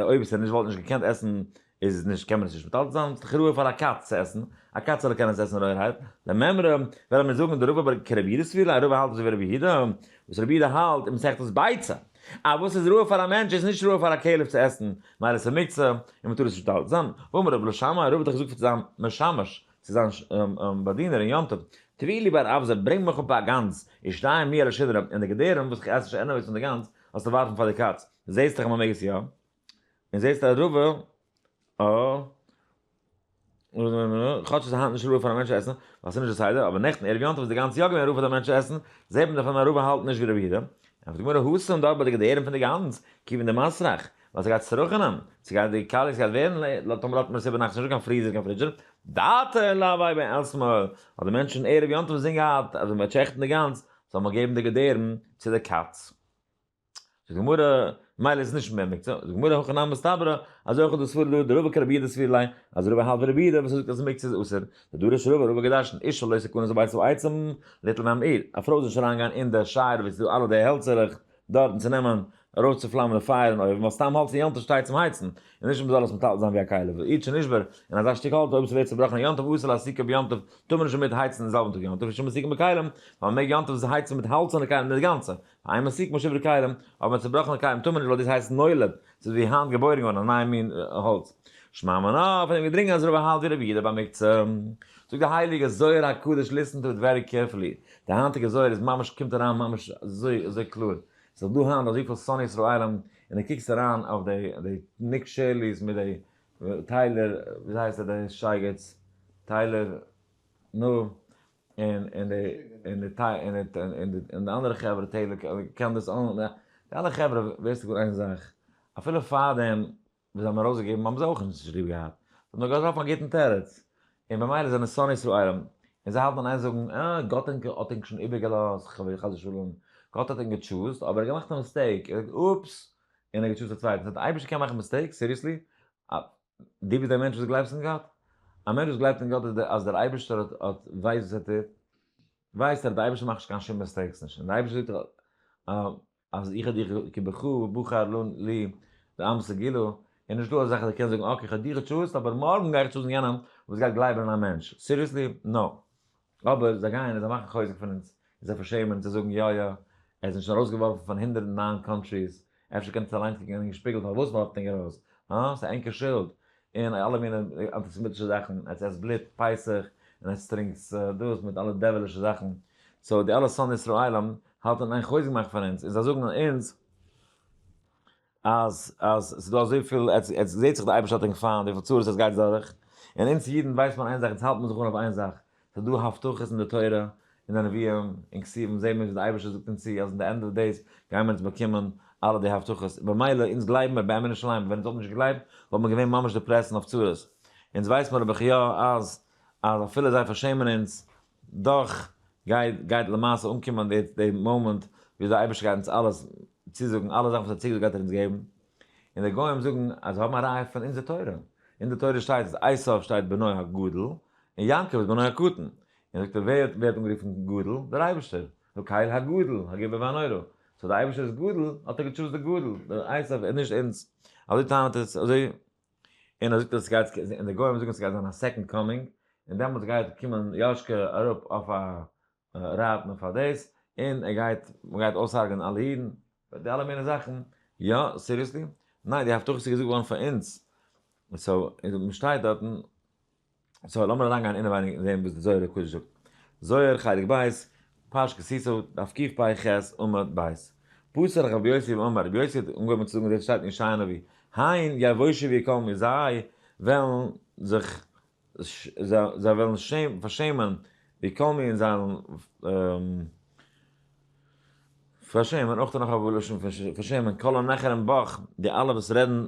אויב איז ער נישט וואלט נישט געקענט עסן איז נישט קען מען עס נישט מיט אלץ דאן איז דאך ראוי פאר א קאץ צו עסן, א קאץ זאל קענען עס עסן רויערהייט, לממרא וועלן מיר זאגן די רבי אבער כרבי יודע'ס תפילה, א רבי האלט נישט אזוי ווי רבי יהודה, וואס רבי יהודה האלט אין מסכת ביצה. אז וואס איז ראוי פאר א מענטש איז נישט ראוי פאר א כלב צו עסן, ווייל עס איז מוקצה און מ'טאר עס נישט מטלטל זיין, ואמר רב לא שמעי, רב האט דאך געזאגט פאר זיין משמש, צו זיין באדינער אין יום טוב, תביא לי בר אבזר, ברענג מיך אפ א גאנז, ישתיים לי על השדרה, און די געדערים וואס איך עס נישט ענוועגס פון די גאנז, זאלסטו ווארפן פאר די קאץ, זעסט דאך אז מ'מעג עס יא. און זעסט אז רובא א כאטש איז היינט נישט רובא פאר א מענטש עסן ווייל ס'איז נישט די סדר אבער נעכטן ערב יום טוב איז די גאנצע יאר געווען רובא פאר די מענטש עסן זעט מען דערפון אז רובא האלטן נישט ווי רבי יהודה ענטפערט די גמרא הוסה און דארט ביי די געדערים פון די גאנז כיוון די מסריח ווייל ס'גייט צורח'נען ס'גייט די קאליעס גייט ווערן לא תאמר לאטמער ס'איז ביינאכט נישטא קיין פריזער קיין פרידזשער דאטע לאווי ביי עסמאל האט די מענטש און ערב יום טוב זינגען געהאט אז ווען מ'וועט שעכטן די גאנז זאל מען געבן די געדערים צו די קאץ. זאגט די גמרא, מילא איז עס נישט מער מקצה, זאגט די גמרא הכא נמי מסתברא, אזוי אויך איז דא סברא דא, דרבה כרבי יהודה סביר ליה, אז רובא האלט ווי רבי יהודה וואס זאגט אז מקצה איז אסור, די דורש רובא רובא געדארשן, אישה לא תקנס בביתה בעצם, ליטל נמי עיר, א פרוי זאל נישט אריין גיין אין די שער וואס איז דא אלע די העלצערעך דארט און צו נעמען ארויס צו פלאמען די פייער אין אויוון ווייל סתם האלץ אין יום טוב שטייט צום הייצן, און נישט מען זאל עס מטלטל זיין ווי א כלה, ואיד שנשבר, און אזא שטיק האלץ אויב עס ווערט צובראכן יום טוב אסור להסיקו ביום טוב, טאר מען נישט דערמיט הייצן אין זעלבן טאג יום טוב, ושמא סיקו בכלים, ווייל מען מעג יום טוב הייצן מיט האלצערנע כלים אינגאנצן, איין מסיק משב ר כלים, אבער צובראכענע כלים טאר מען נישט ווייל דאס הייסט נולד, ס'איז ווי היינט געבוירן געווארן א נייע מין האלץ. שמע מנא, פון דעם געדרינגען אז רבא האלט ווי רבי יהודה במקצה. זאגט די הייליגע זוהר הקדוש ליסטן טו איט ווערי קערפולי, די היינטיגע זוהר איז ממש קומט אריין ממש אזוי אזוי קלאר, ס'איז דא היינט אזויפיל שונאי ישראלים און די קוקסט אריין אויף די די ניק שערלי'ס מיט די טיילער וויאזוי הייסט ער די שייגעץ טיילער נו און און די און די טיי און די און די און די אנדערע חברה טעלער קען דאס אן די אלע חברה ווייסטו גוט איין זאך אפילו פארדעם וואס זיי האבן ארויסגעגעבן האבן זיי אויך נישט ליב געהאט זיי האבן נאר געזאגט אויפן גוטן תירוץ און במילא זענען שונאי ישראל און זיי האלטן און איין זאגן אה גאט האט ענק האט ענק שוין איבערגעלאזט ח ו חס ושלום גאט האט ענק געטשוזט אבער ער האט געמאכט א מיסטעיק ער האט אופס און ער האט געטשוזט א צווייטן ס'הייסט די אייבערשטער קען מאכן מיסטעיקס סיריעסלי דו ביסט א מענטש וואס גלייבסט אין גאט? א מענטש וואס גלייבט אין גאט איז אז דער אייבערשטער האט האט ווייסט וואס ער טוט, ווייסט ער דער אייבערשטער מאכט נישט קיין שום מיסטעיקס נישט, און דער אייבערשטער זאגט דאך אז איך האב דיך כבחו ובחר לו לי ואמס גילו, און נישט דא אזאך אז ער קען זאגן אקעי איך האב דיך געטשוזט אבער מארגן גיי איך טשוזן יענעם וואס גייט גלייבן אין א מענטש, סיריעסלי? נאו. אבער זיי גייען און זיי מאכן חוזק פון אונז, און זיי פארשעמען צו זאגן יא יא, ער איז נישט ארויסגעווארפן פון הונדערט און נײַן קאנטריס, אפשר קענט עטס אליינס קוקן אינעם שפיגל פארוואס מ'ווארפט ענק ארויס, הא? ס'איז ענקער שולד, און אלע מינע אנטיסעמיטישע זאכן, עטס עסט בלוט פסח, און עטס טרינקטס דאס מיט אלע דעווילישע זאכן, סאו די אלע שונאי ישראלים האלטן און איין חוזק מאכן פון אונז, און זיי זאגן אונז. אז אז ס'איז דא אזויפיל, עטס עטס זעהט זיך די אייבערשטער האט ענק פיינט וויפיל צרות עטס גייטס דורך, און אונז אידן ווייסט מען איין זאך אונז האלט מען זיך אן אויף איין זאך, ס'איז דא הבטחות אין די תורה אין די נביאים אין כתובים זעהן מיר ווי די אייבערשטער זאגט אונז צו אז אין די ענד אוו דעיס גייען מיר עטס באקומען אלע די הבטחות און במילא אונז גלייבן מיר באמת שלמה ווען אונז וואלט נישט געגלייבט וואלט מען געווען ממש דעפרעסט און אויף צרות, אונז ווייסט מיר אבער ח י אז אז אפילו זיי פארשעמען אונז דאך גייט גייט למעשה אנקומען די די מאמענט ווי אזוי אייבערשטער גייט אונז אלעס צוזאגן אלע זאכן וואס ער האט צוגעזאגט גייט ער אונז געבן, און די גוים זאגן אז זיי האבן א ראיה פון אונזער תורה, אין די תורה שטייט אז עשו שטייט בנו הגדול און יעקב איז בנו הקטן, און זאגט ער ווער ווערט אנגערופן גדול? דער אייבערשטער, נו קהל הגדול הגובר והנורא, סאו די אייבערשטער איז גדול האט ער געטשוזט די גדול, די עשו און נישט אונז, אזוי טענה'ט ער אזוי. און ער זאגט אז סגייט און די גוים זאגן סגייט זיין א סעקאנד קאמינג און דעמאלטס גייט קומען יאש כ אראפ אויף א רייד נאר פאר דאס און ער גייט מען גייט אויסהארגענען אלע אידן די אלע מיני זאכן יא סיריעסלי ניין די הבטחות איז געזאגט געווארן פאר אונז און סאו און מ'שטייט דארטן. סאו לאמיר אריינגיין אינעווייניג און זעהן וואס די זוהר הק' זאגט. זוהר חלק ב', פרש כסיסו, דף קפ ח, עמוד ב'. פסל רחב יוסף אמר, רבי יוסף האט אנגעהויבן צו זאגן דאס שטייט אין ישעי' הנביא, הן יבושו ויקומו מיר זיי וועלן זיך זיי וועלן פארשעמען ויקומו און זיי וועלן פארשעמען אויך נאך א לשון פון פארשעמען כל הנחרים בך די אלע וואס רעדן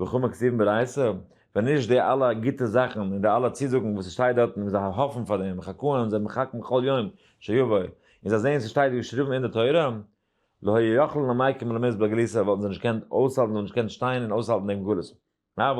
וכו' מקצתיו ברייתא, ווען נישט די אלע גוטע זאכן און די אלע צוזאגן וואס ס'שטייט דארטן און זיי האפן פאר דעם, חקאן זיי מחכים כל יום שיבוא, און זיי זעען ס'שטייט געשריבן אין די תורה, לא היו יכלין למעיקים ולמעיז בגלותא וואלטן זיי נישט געקענט אויסהאלטן און נישט געקענט שטיין און אויסהאלטן דעם גלות. אבל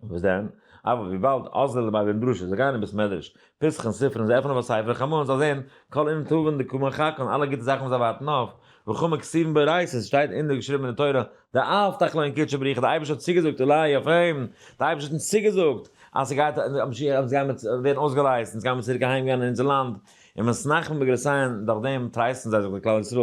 וואס דען? אבל וויבאלד אזל ביי בן בראשית, זיי גייען אין בית מדרש, פסח'ן ספר און זיי עפענען א ספר חמה און זאל זען כל און טובין דקומן חקה און אלע גוטע זאכן וואס זיי ווארטן אויף, וכמו כתובין באורייתא עס שטייט אינדער געשריבן אין די תורה די אלפתח לו אין קודשא בריך די אייבערשטער האט צוגעזאגט אולי אויף אים די אייבערשטער האט אונז צוגעזאגט אז ס'גייט אז משיח אונז גיימער ווערן אויסגעלייזט אונז גיימער צוריק אהיים גיין אין אונזער לאנד און מ'איז נחם בגרסאיהן דורך דעם טרייסטן זיי זיך די כלל ישראל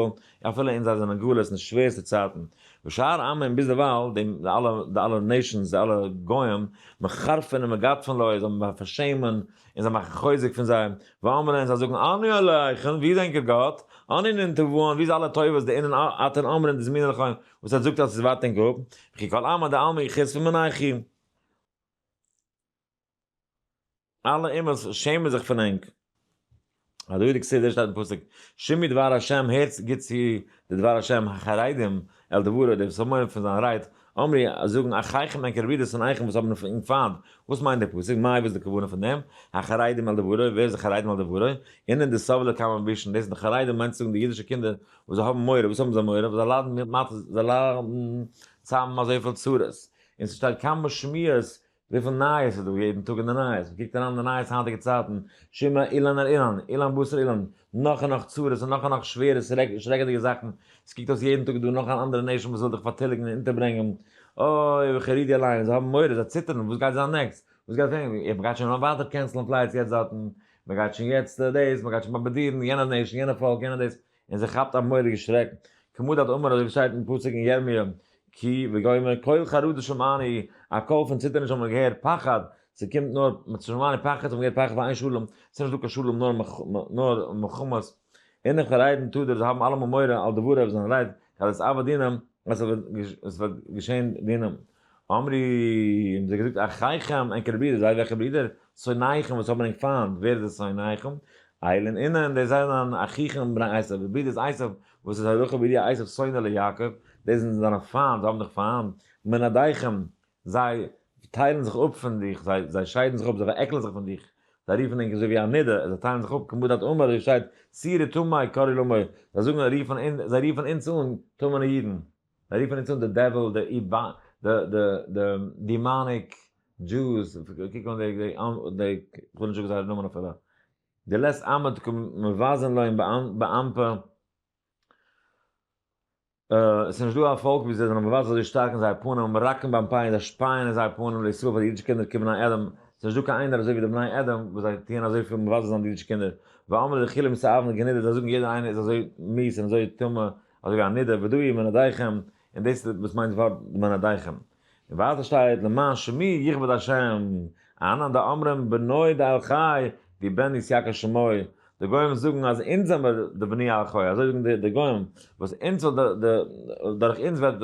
אפילו אין זיי זענען גלות אין די שווערסטע צייטן, ושאר עמים ביז דערווייל, די אלע די אלע נעישאנס די אלע גוים, מחרפין ומגדפין לוי, זיי האבן פארשעמען און זיי מאכן חוזק פון זיי, ואמרין און זיי זאגן אני אלהיכם ווי איז ענקער גאט, אני ננטבון ווי איז אלע טובות די אינן אתן אמרין דזמינן לכם וואס איר זאגט אז עס איז ווייט ענק אפ, וכי כל עמא דעלמא יחוס פון מנעכי. אלע אומות שעמען זיך פון ענק. אז דוד כסדר שטייט אין פסוק שמעו דבר השם הערטס גוט צו די דבר השם החרדים על דברו די וואס האבן מורא פון זיין רייד אמרי זאגן אחיכם ענקער ווי די שונאיכם וואס האבן ענק פיינט וואס מיינט די פסוק מאי וואס איז די כוונה פון דעם החרדים על דברו ווער איז די חרדים על דברו אינען די סבלה כמה בישן דאס זענען חרדים מיינט צו זאגן די אידישע קינדער וואס זיי האבן מורא וואס האבן זיי מורא ווייל זיי ליידן מיט מצות זיי ליידן צאם אזויפיל צרות און ס'שטייט כמה שמועות וויפיל נייעס איז דא יעדן טאג אין די נייעס, מ'קוקט אריין אין די נייעס היינטיגע צייטן, שמא אילן על אילן, אילן בשר אילן, נאך און נאך צרות און נאך און נאך שווערע שרעקעדיגע זאכן, עס קוקט אויס יעדן טאג איז דא נאך אן אנדערע נעשאמע וואס וויל דיך פארטיליגן און אונטערברענגען, אוי ווי חרדי אליין, זיי האבן מורא, זיי ציטערן, וואס גייט זיין נעקסט, וואס גייט ווערן, אוי מ'גייט שוין אן ווייטער קענסלען פלייטס יעצט דארטן, מ'גייט שוין יעצט דעיס, מ'גייט שוין באמבעדירן יענע נעישאן, יענע פאלק, יענע דעיס, און זיי כאפט א מורא'דיגע שרעק, כמו דעת אמר אזוי ווי שטייט אין פסוק אין ירמיה כי וגומר קול חרדה שמעני, א קול פון ציטערניש האבן מיר געהערט, פחד, ס'קומט נאר, שמעני פחד, האבן מיר געהערט פחד פאר איין שלום, ס'איז נישט דא קיין שלום נאר מלחמות, און איך פאריידן טו דיר, זיי האבן אלעמאל מורא על דבריו, זיין רייד, כדת עבד דינם, אז עס וועט געשען דינם, אמרי, האבן זיי געזאגט, אחיכם, ענקערע ברידער, זיי וועלכע ברידער? שונאיכם, וואס האבן ענק פיינט, ווער איז די שונאיכם? איל און אינן, די זענען אחיכם בני עשיו, די ברידערס עשיו, וואס איז הלכה בידיעה עשיו שונא ליעקב, די זענען זיינע פיינט, זיי האבן דיך פיינט, מנעדיכם, זיי טיילן זיך אפ פון דיך, זיי, זיי שיידן זיך אפ, זיי פארעקלען זיך פון דיך, זיי רופן ענק אזוי ווי א נידה, זיי טיילן זיך אפ, כמו דארט אמר, ווי שטייט, צי ר'טמאי קרי ל'מאי, זיי זאגן, רופן אונ, זיי רופן אונדז אן, טמא'נע אידן. זיי רופן אונז אן די דעוויל, די דימאניק דזשוס, קוק אן די, כ'וויל נישט זאגן זייערע נאמען אפילו, די לעת עמד קומט מבזים להם באמתע, עס איז נישט דא א פאלק ווי זיי, זענען מבזה אזוי שטארק אין זייער פנים, און ראקן ביים פיין, זיי שפייען אין זייער פנים לישראל פאר די אידישע קינדער כבני אדם, עס איז נישט דא קיין איינער אזוי ווי די בני אדם, וואס זיי טוען אזויפיל מבזה זיין די אידישע קינדער, ואמר לחילים סאבן גענידער, זיי זאגן יעדער איינער איז אזוי מיעס און אזוי טמא, אזוי ווי הנידה ודאי מנעדיכם, און דאס איז וואס מיינט די ווארט מנעדיכם. און ווייטער שטייט למען שמי יכבד השם, אהנן דאמרים בנוי דאל חי די בן יסיאקה שמוי, די גוים זאגן אז אונז זעמער די בני אל חי, אזוי זאגן די גוים, וואס אונז וועט די, דורך אונז וועט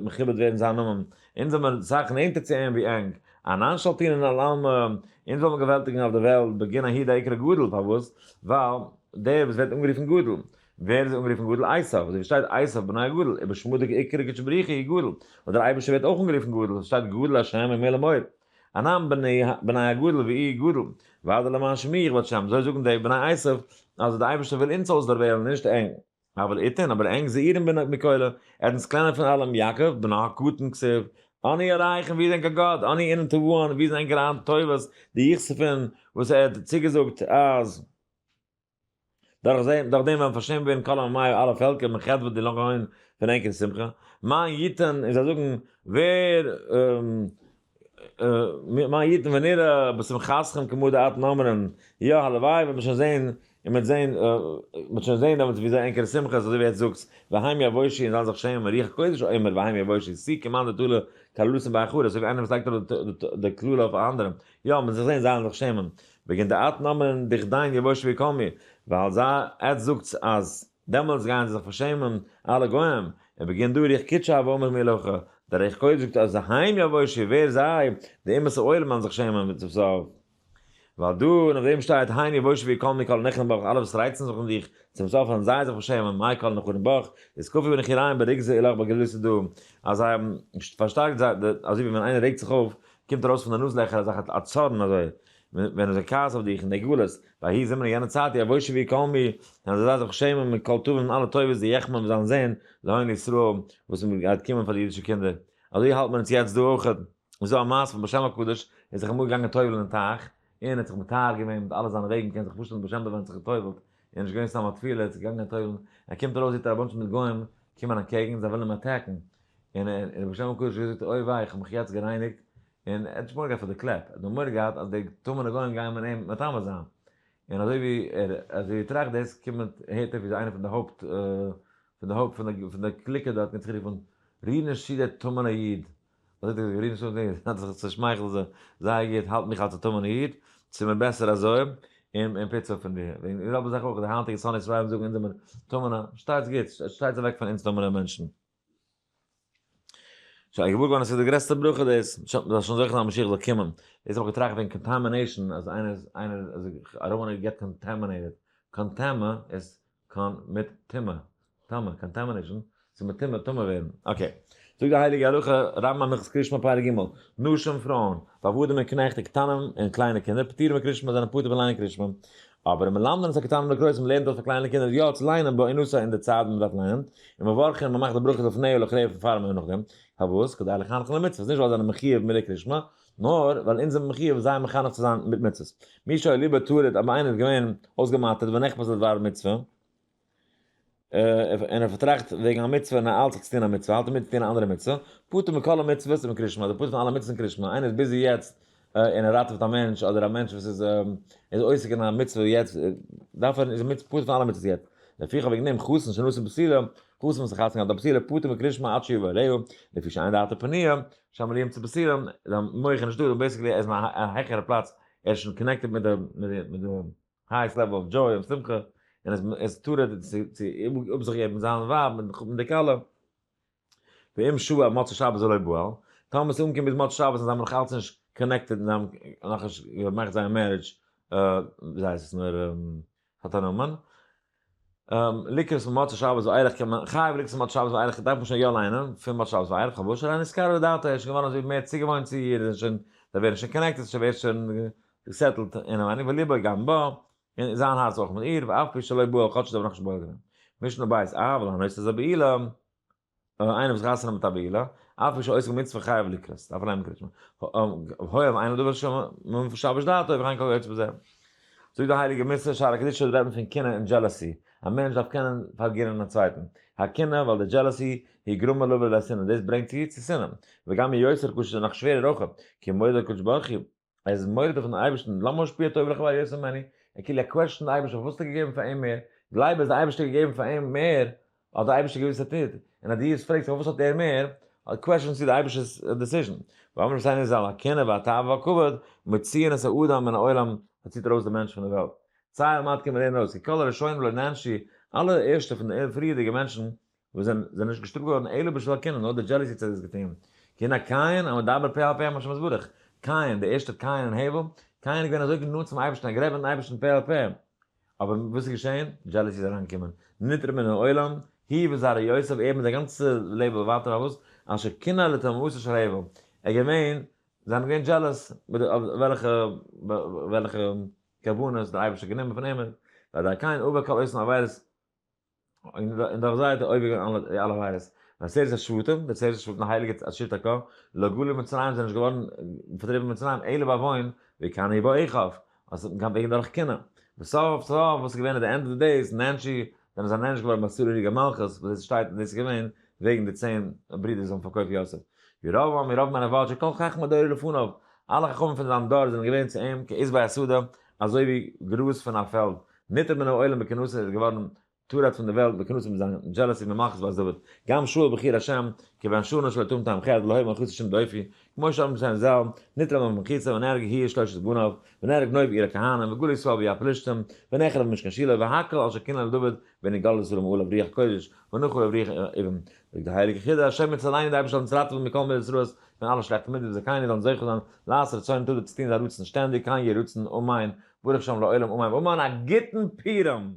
מכובד ווערן זיין נאמען, אונז זעמער סאך נענטער צו אים ווי ענק, אהנן שלטינן על עלמה, אונז וועלמער געוועלטיגן אויף די וועלט בגין ההיד העיקר גדול, פארוואס? ווייל דער וואס ווערט אנגערופן גדול, ווער איז אנגערופן גדול? עשיו, אזוי ווי שטייט עשיו בנו הגדול, איבער שמו די עיקר הקדוש ברוך הוא איז גדול, און דער אייבערשטער ווערט אויך אנגערופן גדול, עס שטייט גדול השם ומלא מועד, אנן בני הגדול ואי גדול, והדר למען שמי יכבד שם, אזוי זאגן די בני עשיו, אלזא דער אייבערשטער וויל אונז אויסדערוועלן, נישט ענק. הבל איתן, אבער ענק זעירין בן מקהלה, ער האט אונז קלענער פון אלעם, יעקב, בנו הקטן, כסיו, אני ארייך, און ווי איז ענק א גאט, אני אינן תבואן, ווי איז ענקער היינט טובות, די יחספון, וואס ער האט צוגעזאגט אז. דורך זיי דורך דעם וועלן פארשעמט ווערן כל עמיו אלע פעלקער און חטא וועט די לאך אהן פון ענק און שמחה מיין יתן און זיי זאגן ווער מיין יתן ונראה בשמחתכם כמו דאתן אומרים יא הלוואי וועט מען שוין זען און מ'וועט זען מ'וועט שוין זען דעמאלטס ווי זייער ענקערע שמחה איז אזוי ווי עטס זאגטס והי' יבושי און זיי זיך שעמען רוח קודש אומר והי' יבושי סי כמאן דתולע קללות'ן ביי אחרות אזוי ווי איינער וואס לייגט אראפ די קללה אויף א אנדערעם יא מ'וועט זיך זען זיי זאלן זיך שעמען וועגן די אט נאמען דיך דיין יבוש ויקום מיר, ווייל זיי עטס זאגטס אז דעמאלטס גייען זיי זיך פארשעמען אלע גוים, און וועגן דו ריח קדשו אויף אמך מיר לך, דער ריח קודש זאגט אז היים יבוש איר ווער זיי, די אומות העולם וועלן זיך שעמען מיט צו סוף, ווייל דא און אויף דעם שטייט היים יבוש ויקום מיר כל נכרים בך, אלע וואס רייצן זיך און דיך צום סוף וועלן זיי זיך פארשעמען מאי כל נכרים בך, איז כפי ונחיריים ברגזי אלך בגלויות איז דא אז זיי האבן פארשטארקט זיי, אזוי ווי ווען איינער רעגט זיך אויף קומט ארויס פון די נאז לעכער אזעלכע א צארן אזוי ווען אזוי כעס אויף דיך אין די גלות ויהי זמר אין יענע צייט יבושו ווי קולמי און אזוי זיי זיך שעמען מיט כל טובים און אלע טובות די יחמם זיין זען להון ישראל וואס איז גייט קומען פאר די אידישע קינדער אזוי האלט מען עס יעצט דא אויך איז דא א מעשה פון בשם הקדוש ער איז זיך אמאל געגאנגען טובל'ן אין טייך און ער האט זיך מטהר געווען מיט אלע זיינע וועגן מ'קען זיך פארשטעלן בשם דער ווען זיך געטובל'ט ער איז נישט געווען סתם א טבילה ער האט זיך געגאנגען טובל'ן ער קומט ארויס זעט ער א באנטש מיט גוים קומען אנטקעגן זיי ווילן אים אטעקן און און רבי שלום קוש האט געזאגט אוי וויי איך האב מיך יעצט גערייניגט, און ער האט נישט מורא געהאט פאר די קלעפ, ער האט נאר מורא געהאט אז די טמא'נע גוים גייען מיט אים מטמא זיין, און אזוי ווי ער אזוי ווי ער טראכט דאס קומט הערט ער ווי אזוי איינער פון די הויפט פון די הויפט פון די פון די קליקע דארט האט גערופן ריר נישט צו דער טמא'נער איד, אזוי האט ער געזאגט ריר נישט צו דעם איד, האט זיך צושמייכלט זיי זייער גוט האלט מיך אלס א טמא'נער איד, ס'מיר בעסער אזוי, און און פיצא פון דיר, וועגן די זעלבע זאך אויך די היינטיגע שונאי ישראל זאגן אונז זעמיר טמא'נע, שטייטס גוט, שטייטס אוועק פון אונז טמא'נע מענטשן. שוין געוואר געווארן אז ס'איז די גרעסטע ברכה דאס, מ'זאל שוין זוכה זיין אז משיח זאל קומען, דאס האב איך געטראכט וועגן קאנטאמינעישאן אז איינער איז איינער איז זיך ארום און געט קאנטאמינעיטעד, קאנטאמע איז קאן מיט טומאה, טמא, קאנטאמינעישאן איז מיט טומאה, טמא ווערן, אקעי, זאגט די הייליגע הלכה, רמב ם הלכות קרישמע פרק ג', נשים, פרויען, ועבדים און קנעכט און קטנים און קליינע קינדער פטורים מקרישמע זענען פטור פון ליינען קרישמע, אבער מלמדין את הקטנים לקרוא, מען לערנט אויס פאר קליינע קינדער יא צו ליינען בא אין נוסח אין די צייט ווען מען דארף ליינען, און מברכין מען מאכט די ברכות לפני ולאחרי פון פאר און נאך דעם, פארוואס? כדי לחנכן למצוות, נישט ווייל זיי זענען מחויב מלא קרישמע, נאר ווייל אונז זעמיר מחויב זיי מחנך צו זיין מיט מצוות, מי שהיה ליבו טרוד אויב איינער איז געווען אויסגעמאטערט ונחפז לדבר מצוה, און ער פארטראכט וועגן א מצוה און ער איילט זיך צו טון א מצוה, איילט אים מיט צו טון א אנדערע מצוה, פטור מכל המצוות און קרישמע, אדער פטור פון אלע מצוות און קרישמע, איינער איז ביזי יעצט און ער ראטעוועט א מענטש, אדער א מענטש וואס איז איז עוסק אין א מצוה יעצט, דארף ער, איז ער פטור פון אלע מצוות יעצט, לפיכך וועגן דעם חתן שנשא בפסילה, חתן וואס האט חתונה געהאט א פסילה, פטור מקרישמע עד שיבא אליהו, לפי שאין דעתו פנויה, שמלאים צו פסילה, זיין מח איז נישטא, בעיסיקלי ער איז אין א העכערע פלאץ, ער איז שוין קאנעקטעד מיט די מיט די. הייס לעוועל אוו דזשוי און שמחה, און עס איז תורה צו אפזיכגעבן זיין ווייב מיט מחותן די כלה. ואם שו ע מוצאי שבת ולא בועל, טאמער עס איז אנגעקומען ביז מוצאי שבת און זיי האבן נאך אלץ נישט קאנעקטעד און זיי האבן נאכנישט געמאכט זייער מערידזש, זיי עס איז נאר פארנומען, לקראת מוצאי שבת ואילך קען מען, חייב לקראת מוצאי שבת ואילך דארף מען שוין יא ליינען פון מוצאי שבת ואילך פארוואס שוין איין נזכר לדעתו ער איז שוין געווארן אזוי מער צוגעוואוינט צו איר איז שוין זיי ווערן שוין קאנעקטעד שוין ווערט שוין געסעטלט אינעם ענין וליבו גם בה און זיין הארץ אויך מיט איר ואף פי שלא בא כאטש זיי האבן נאכנישט בורר געווען משנה בית אהב ולהנות איז א בעילה. אויב איינער וואס חתונה מיט א בעילה, אף על פי שעוסק במצוה חייב לקרות, דארף ער לייענען קריאת שמע. הוי אב אינו דובר שמע מבין פון שבת דעתו אויב ריין כל היוצא בזה. זאגט די הייליגע מס' שער הקדושה דארט רעדט מען פון קנאה און דזשעלעסי, א מענטש דארף קענען פארגינען א צווייטן, הקנאה ווייל די דזשעלעסי היא גרמה לו ולשנאה דאס ברענגט צו צו שנאה, וגם היא יוצרת קושיות און נאך שווערער אויך, כי מודה הקדוש ברוך הוא. ער איז מורדות פון אייבערשטן למה השפיע טוב לחבריו יותר ממני, ער כאילו ער קוועטשט דעם אייבערשטער פארוואס האט ער געגעבן פאר אים מער, גלייב אז דער אייבערשטער האט געגעבן פאר אים מער האט דער אייבערשטער געוואוסט עתיד, און אז דו יעצט פרעגסט פארוואס האט ער מער, קוועטשנסטו דער אייבערשטער'ס דעסיזשן. ואמר רבי סיינער זל הקנאה והתאווה והכבוד מוציאין את האדם מן העולם, עס ציט ארויס דעם מענטש פון דער וועלט, ציי על מנת קען מען לערנען אויס, כי כל הראשונים לא נענשי, אלע ערשטע פון די פריערדיגע מענטשן וואס זענען זענען נישט געשטופט געווארן אלא בשל הקנאה, נאר די דזשעלעסי צד איז געפעלן. קנאה קין, המדבר פה אל פה עם השם יתברך, קין, דער ערשטער קין און הבל, קין איז געווען אזוי גענאנט צום אייבערשטן און גערעדט מיטן אייבערשטן פה אל פה, אבער וואס איז געשען? דזשעלעסי איז אריינגעקומען, נתרם מן העולם, הי ו זרע יוסף, ער מיט זיין גאנצע לעבן און ווייטער פארוואס? אשר קנא לתאומתו של הבל, ער איז געווען, זיי האבן געווען דזשעלעס אויף וועלכע וועלכע קרבנות דער אייבערשטער האט גענומען פון אים, ווייל דער קין עבר כל אסון עבירות, און דאך זיי האט ער אויבערגענומען אלע די אלע עבירות. ועשרת השבטים, די צען שבטים הייליגע עשית ק, לא גלו מצרים זענען נישט געווארן פארטריבן פון מצרים אלא ביי וואוין ווי קנה איבא עכב, אז ס'האט קיין וועגן דורך קנאה. וסוף סוף וואס איז געווען אט די ענד אוו די דעיס, נענשי, זענען זיי נענש געווארן ביי סורי ריגע מלכות, וואס דאס שטייט און דאס איז געווען וועגן די צען ברידער וואס האבן פארקויפט יוסף. ירבעם און ירבעם אנעוואט שכל חכמי דורו לפניו, אלע חכמים פון זיין דור זענען געווען צו אים כעשבי השדה אזוי ווי גראז פון א פעלד, ניתן מן העולם בכינוסים איז געווארן טורט פון די וועלט בכינוסים מיט זיין דזשעלעסי ממחז בת דוד גם שאול בחיר השם כיוון שאנוש לא יתום טעם חטא ולא היה מנכיס השם דופי כמו שאמר משהן זל ניתן מן ממחיסה ונהרג הי' שלושת בניו ונהרג נוב עיר הכהנים וגולי ישראל ביד פלישתים ונאכל במשכן שילה והקל על שכינה לדוד ונגאל ישראל ומעול אויף רוח קודש ונחול אויף רוח אבן זאגט די הייליגע חיד א השם יצל עיני די אייבערשטער זאל אונז ראטעווען מכל מידות רעות פון אלע שלעכטע מידות וזכינו זאלן זוכה זיין לעשות רצונו תדע צו טון זיין רצון שטענדיג כן יהי רצון אמן ברוך שם לעולם אמן ואמן א גוטן פורים!